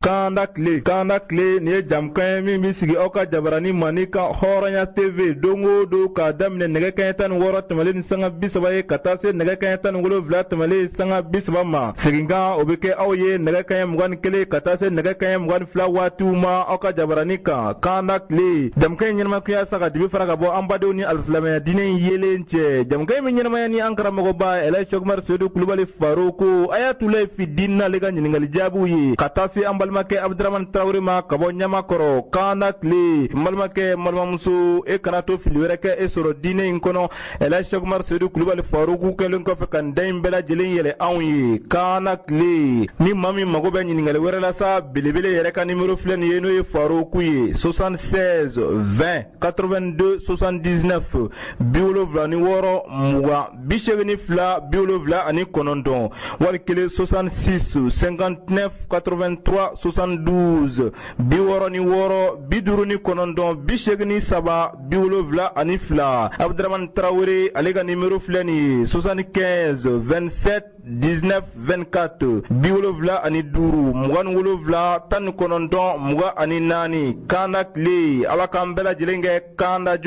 Kanda tile kanda tile nin ye jɛmukan ye min bɛ sigi aw ka jabaranin manin kan hɔrɔnya TV don o don ka daminɛ nɛgɛ kɛɲɛ tan ni wɔɔrɔ tɛmɛnen ni sanga bi saba ye ka taa se nɛgɛ kɛɲɛ tan ni wolonwula tɛmɛnlen sanga bi saba ma seginkan o bɛ kɛ aw ye nɛgɛ kɛɲɛ mugan ni kelen ka taa se nɛgɛ kɛɲɛ mugan ni fila waatiw ma aw ka jabaranin kan kanda tile jɛmukan in ɲɛnamaya kun ye sa ka dibi fara ka bɔ an badenw ni alisilamɛya diinɛ in yeelen cɛ jɛmukan min ɲɛnamaya ni an karamɔgɔba ɛlɛ sɛki umaru seyidu kulubali faruku ayatulahi fi diini ale ka ɲininkali jaabiw ye ka taa se an balimakɛ abudramani tarawele ma ka bɔ ɲamakɔrɔ kanda tile n balimakɛ n balimamuso e kana to fili wɛrɛ k'e sɔrɔ diinɛ in kɔnɔ ɛlɛ sɛki umaru seyidu kulubali faruku kɛlen kɔfɛ ka nin da in bɛɛ lajɛlen yɛlɛ anw ye kanda tile ni maa min mago bɛ ɲininkali wɛrɛ la sa belebele yɛrɛ ka nimero filɛ nin ye n'o ye faruku ye 76 20 82 79 bi wolonwula ni wɔɔrɔ mugan bi segin ni fila bi wolonwula ani kɔnɔntɔn wali kelen soixante-six cinquante-neuf quatre-vingt-trois soixante-douze bi wɔɔrɔ ni wɔɔrɔ bi duuru ni kɔnɔntɔn bi segin ni saba bi wolonwula ani fila abuduramani tarawele ale ka nimɔrɔ filɛ nin ye soixante-quinze vingt-sept dix-neuf vingt-quatre bi wolonwula ani duuru mugan ni wolonwula tan ni kɔnɔntɔn mugan ani naani kanda tile ala k'an bɛɛ lajɛlen kɛ kanda jɔn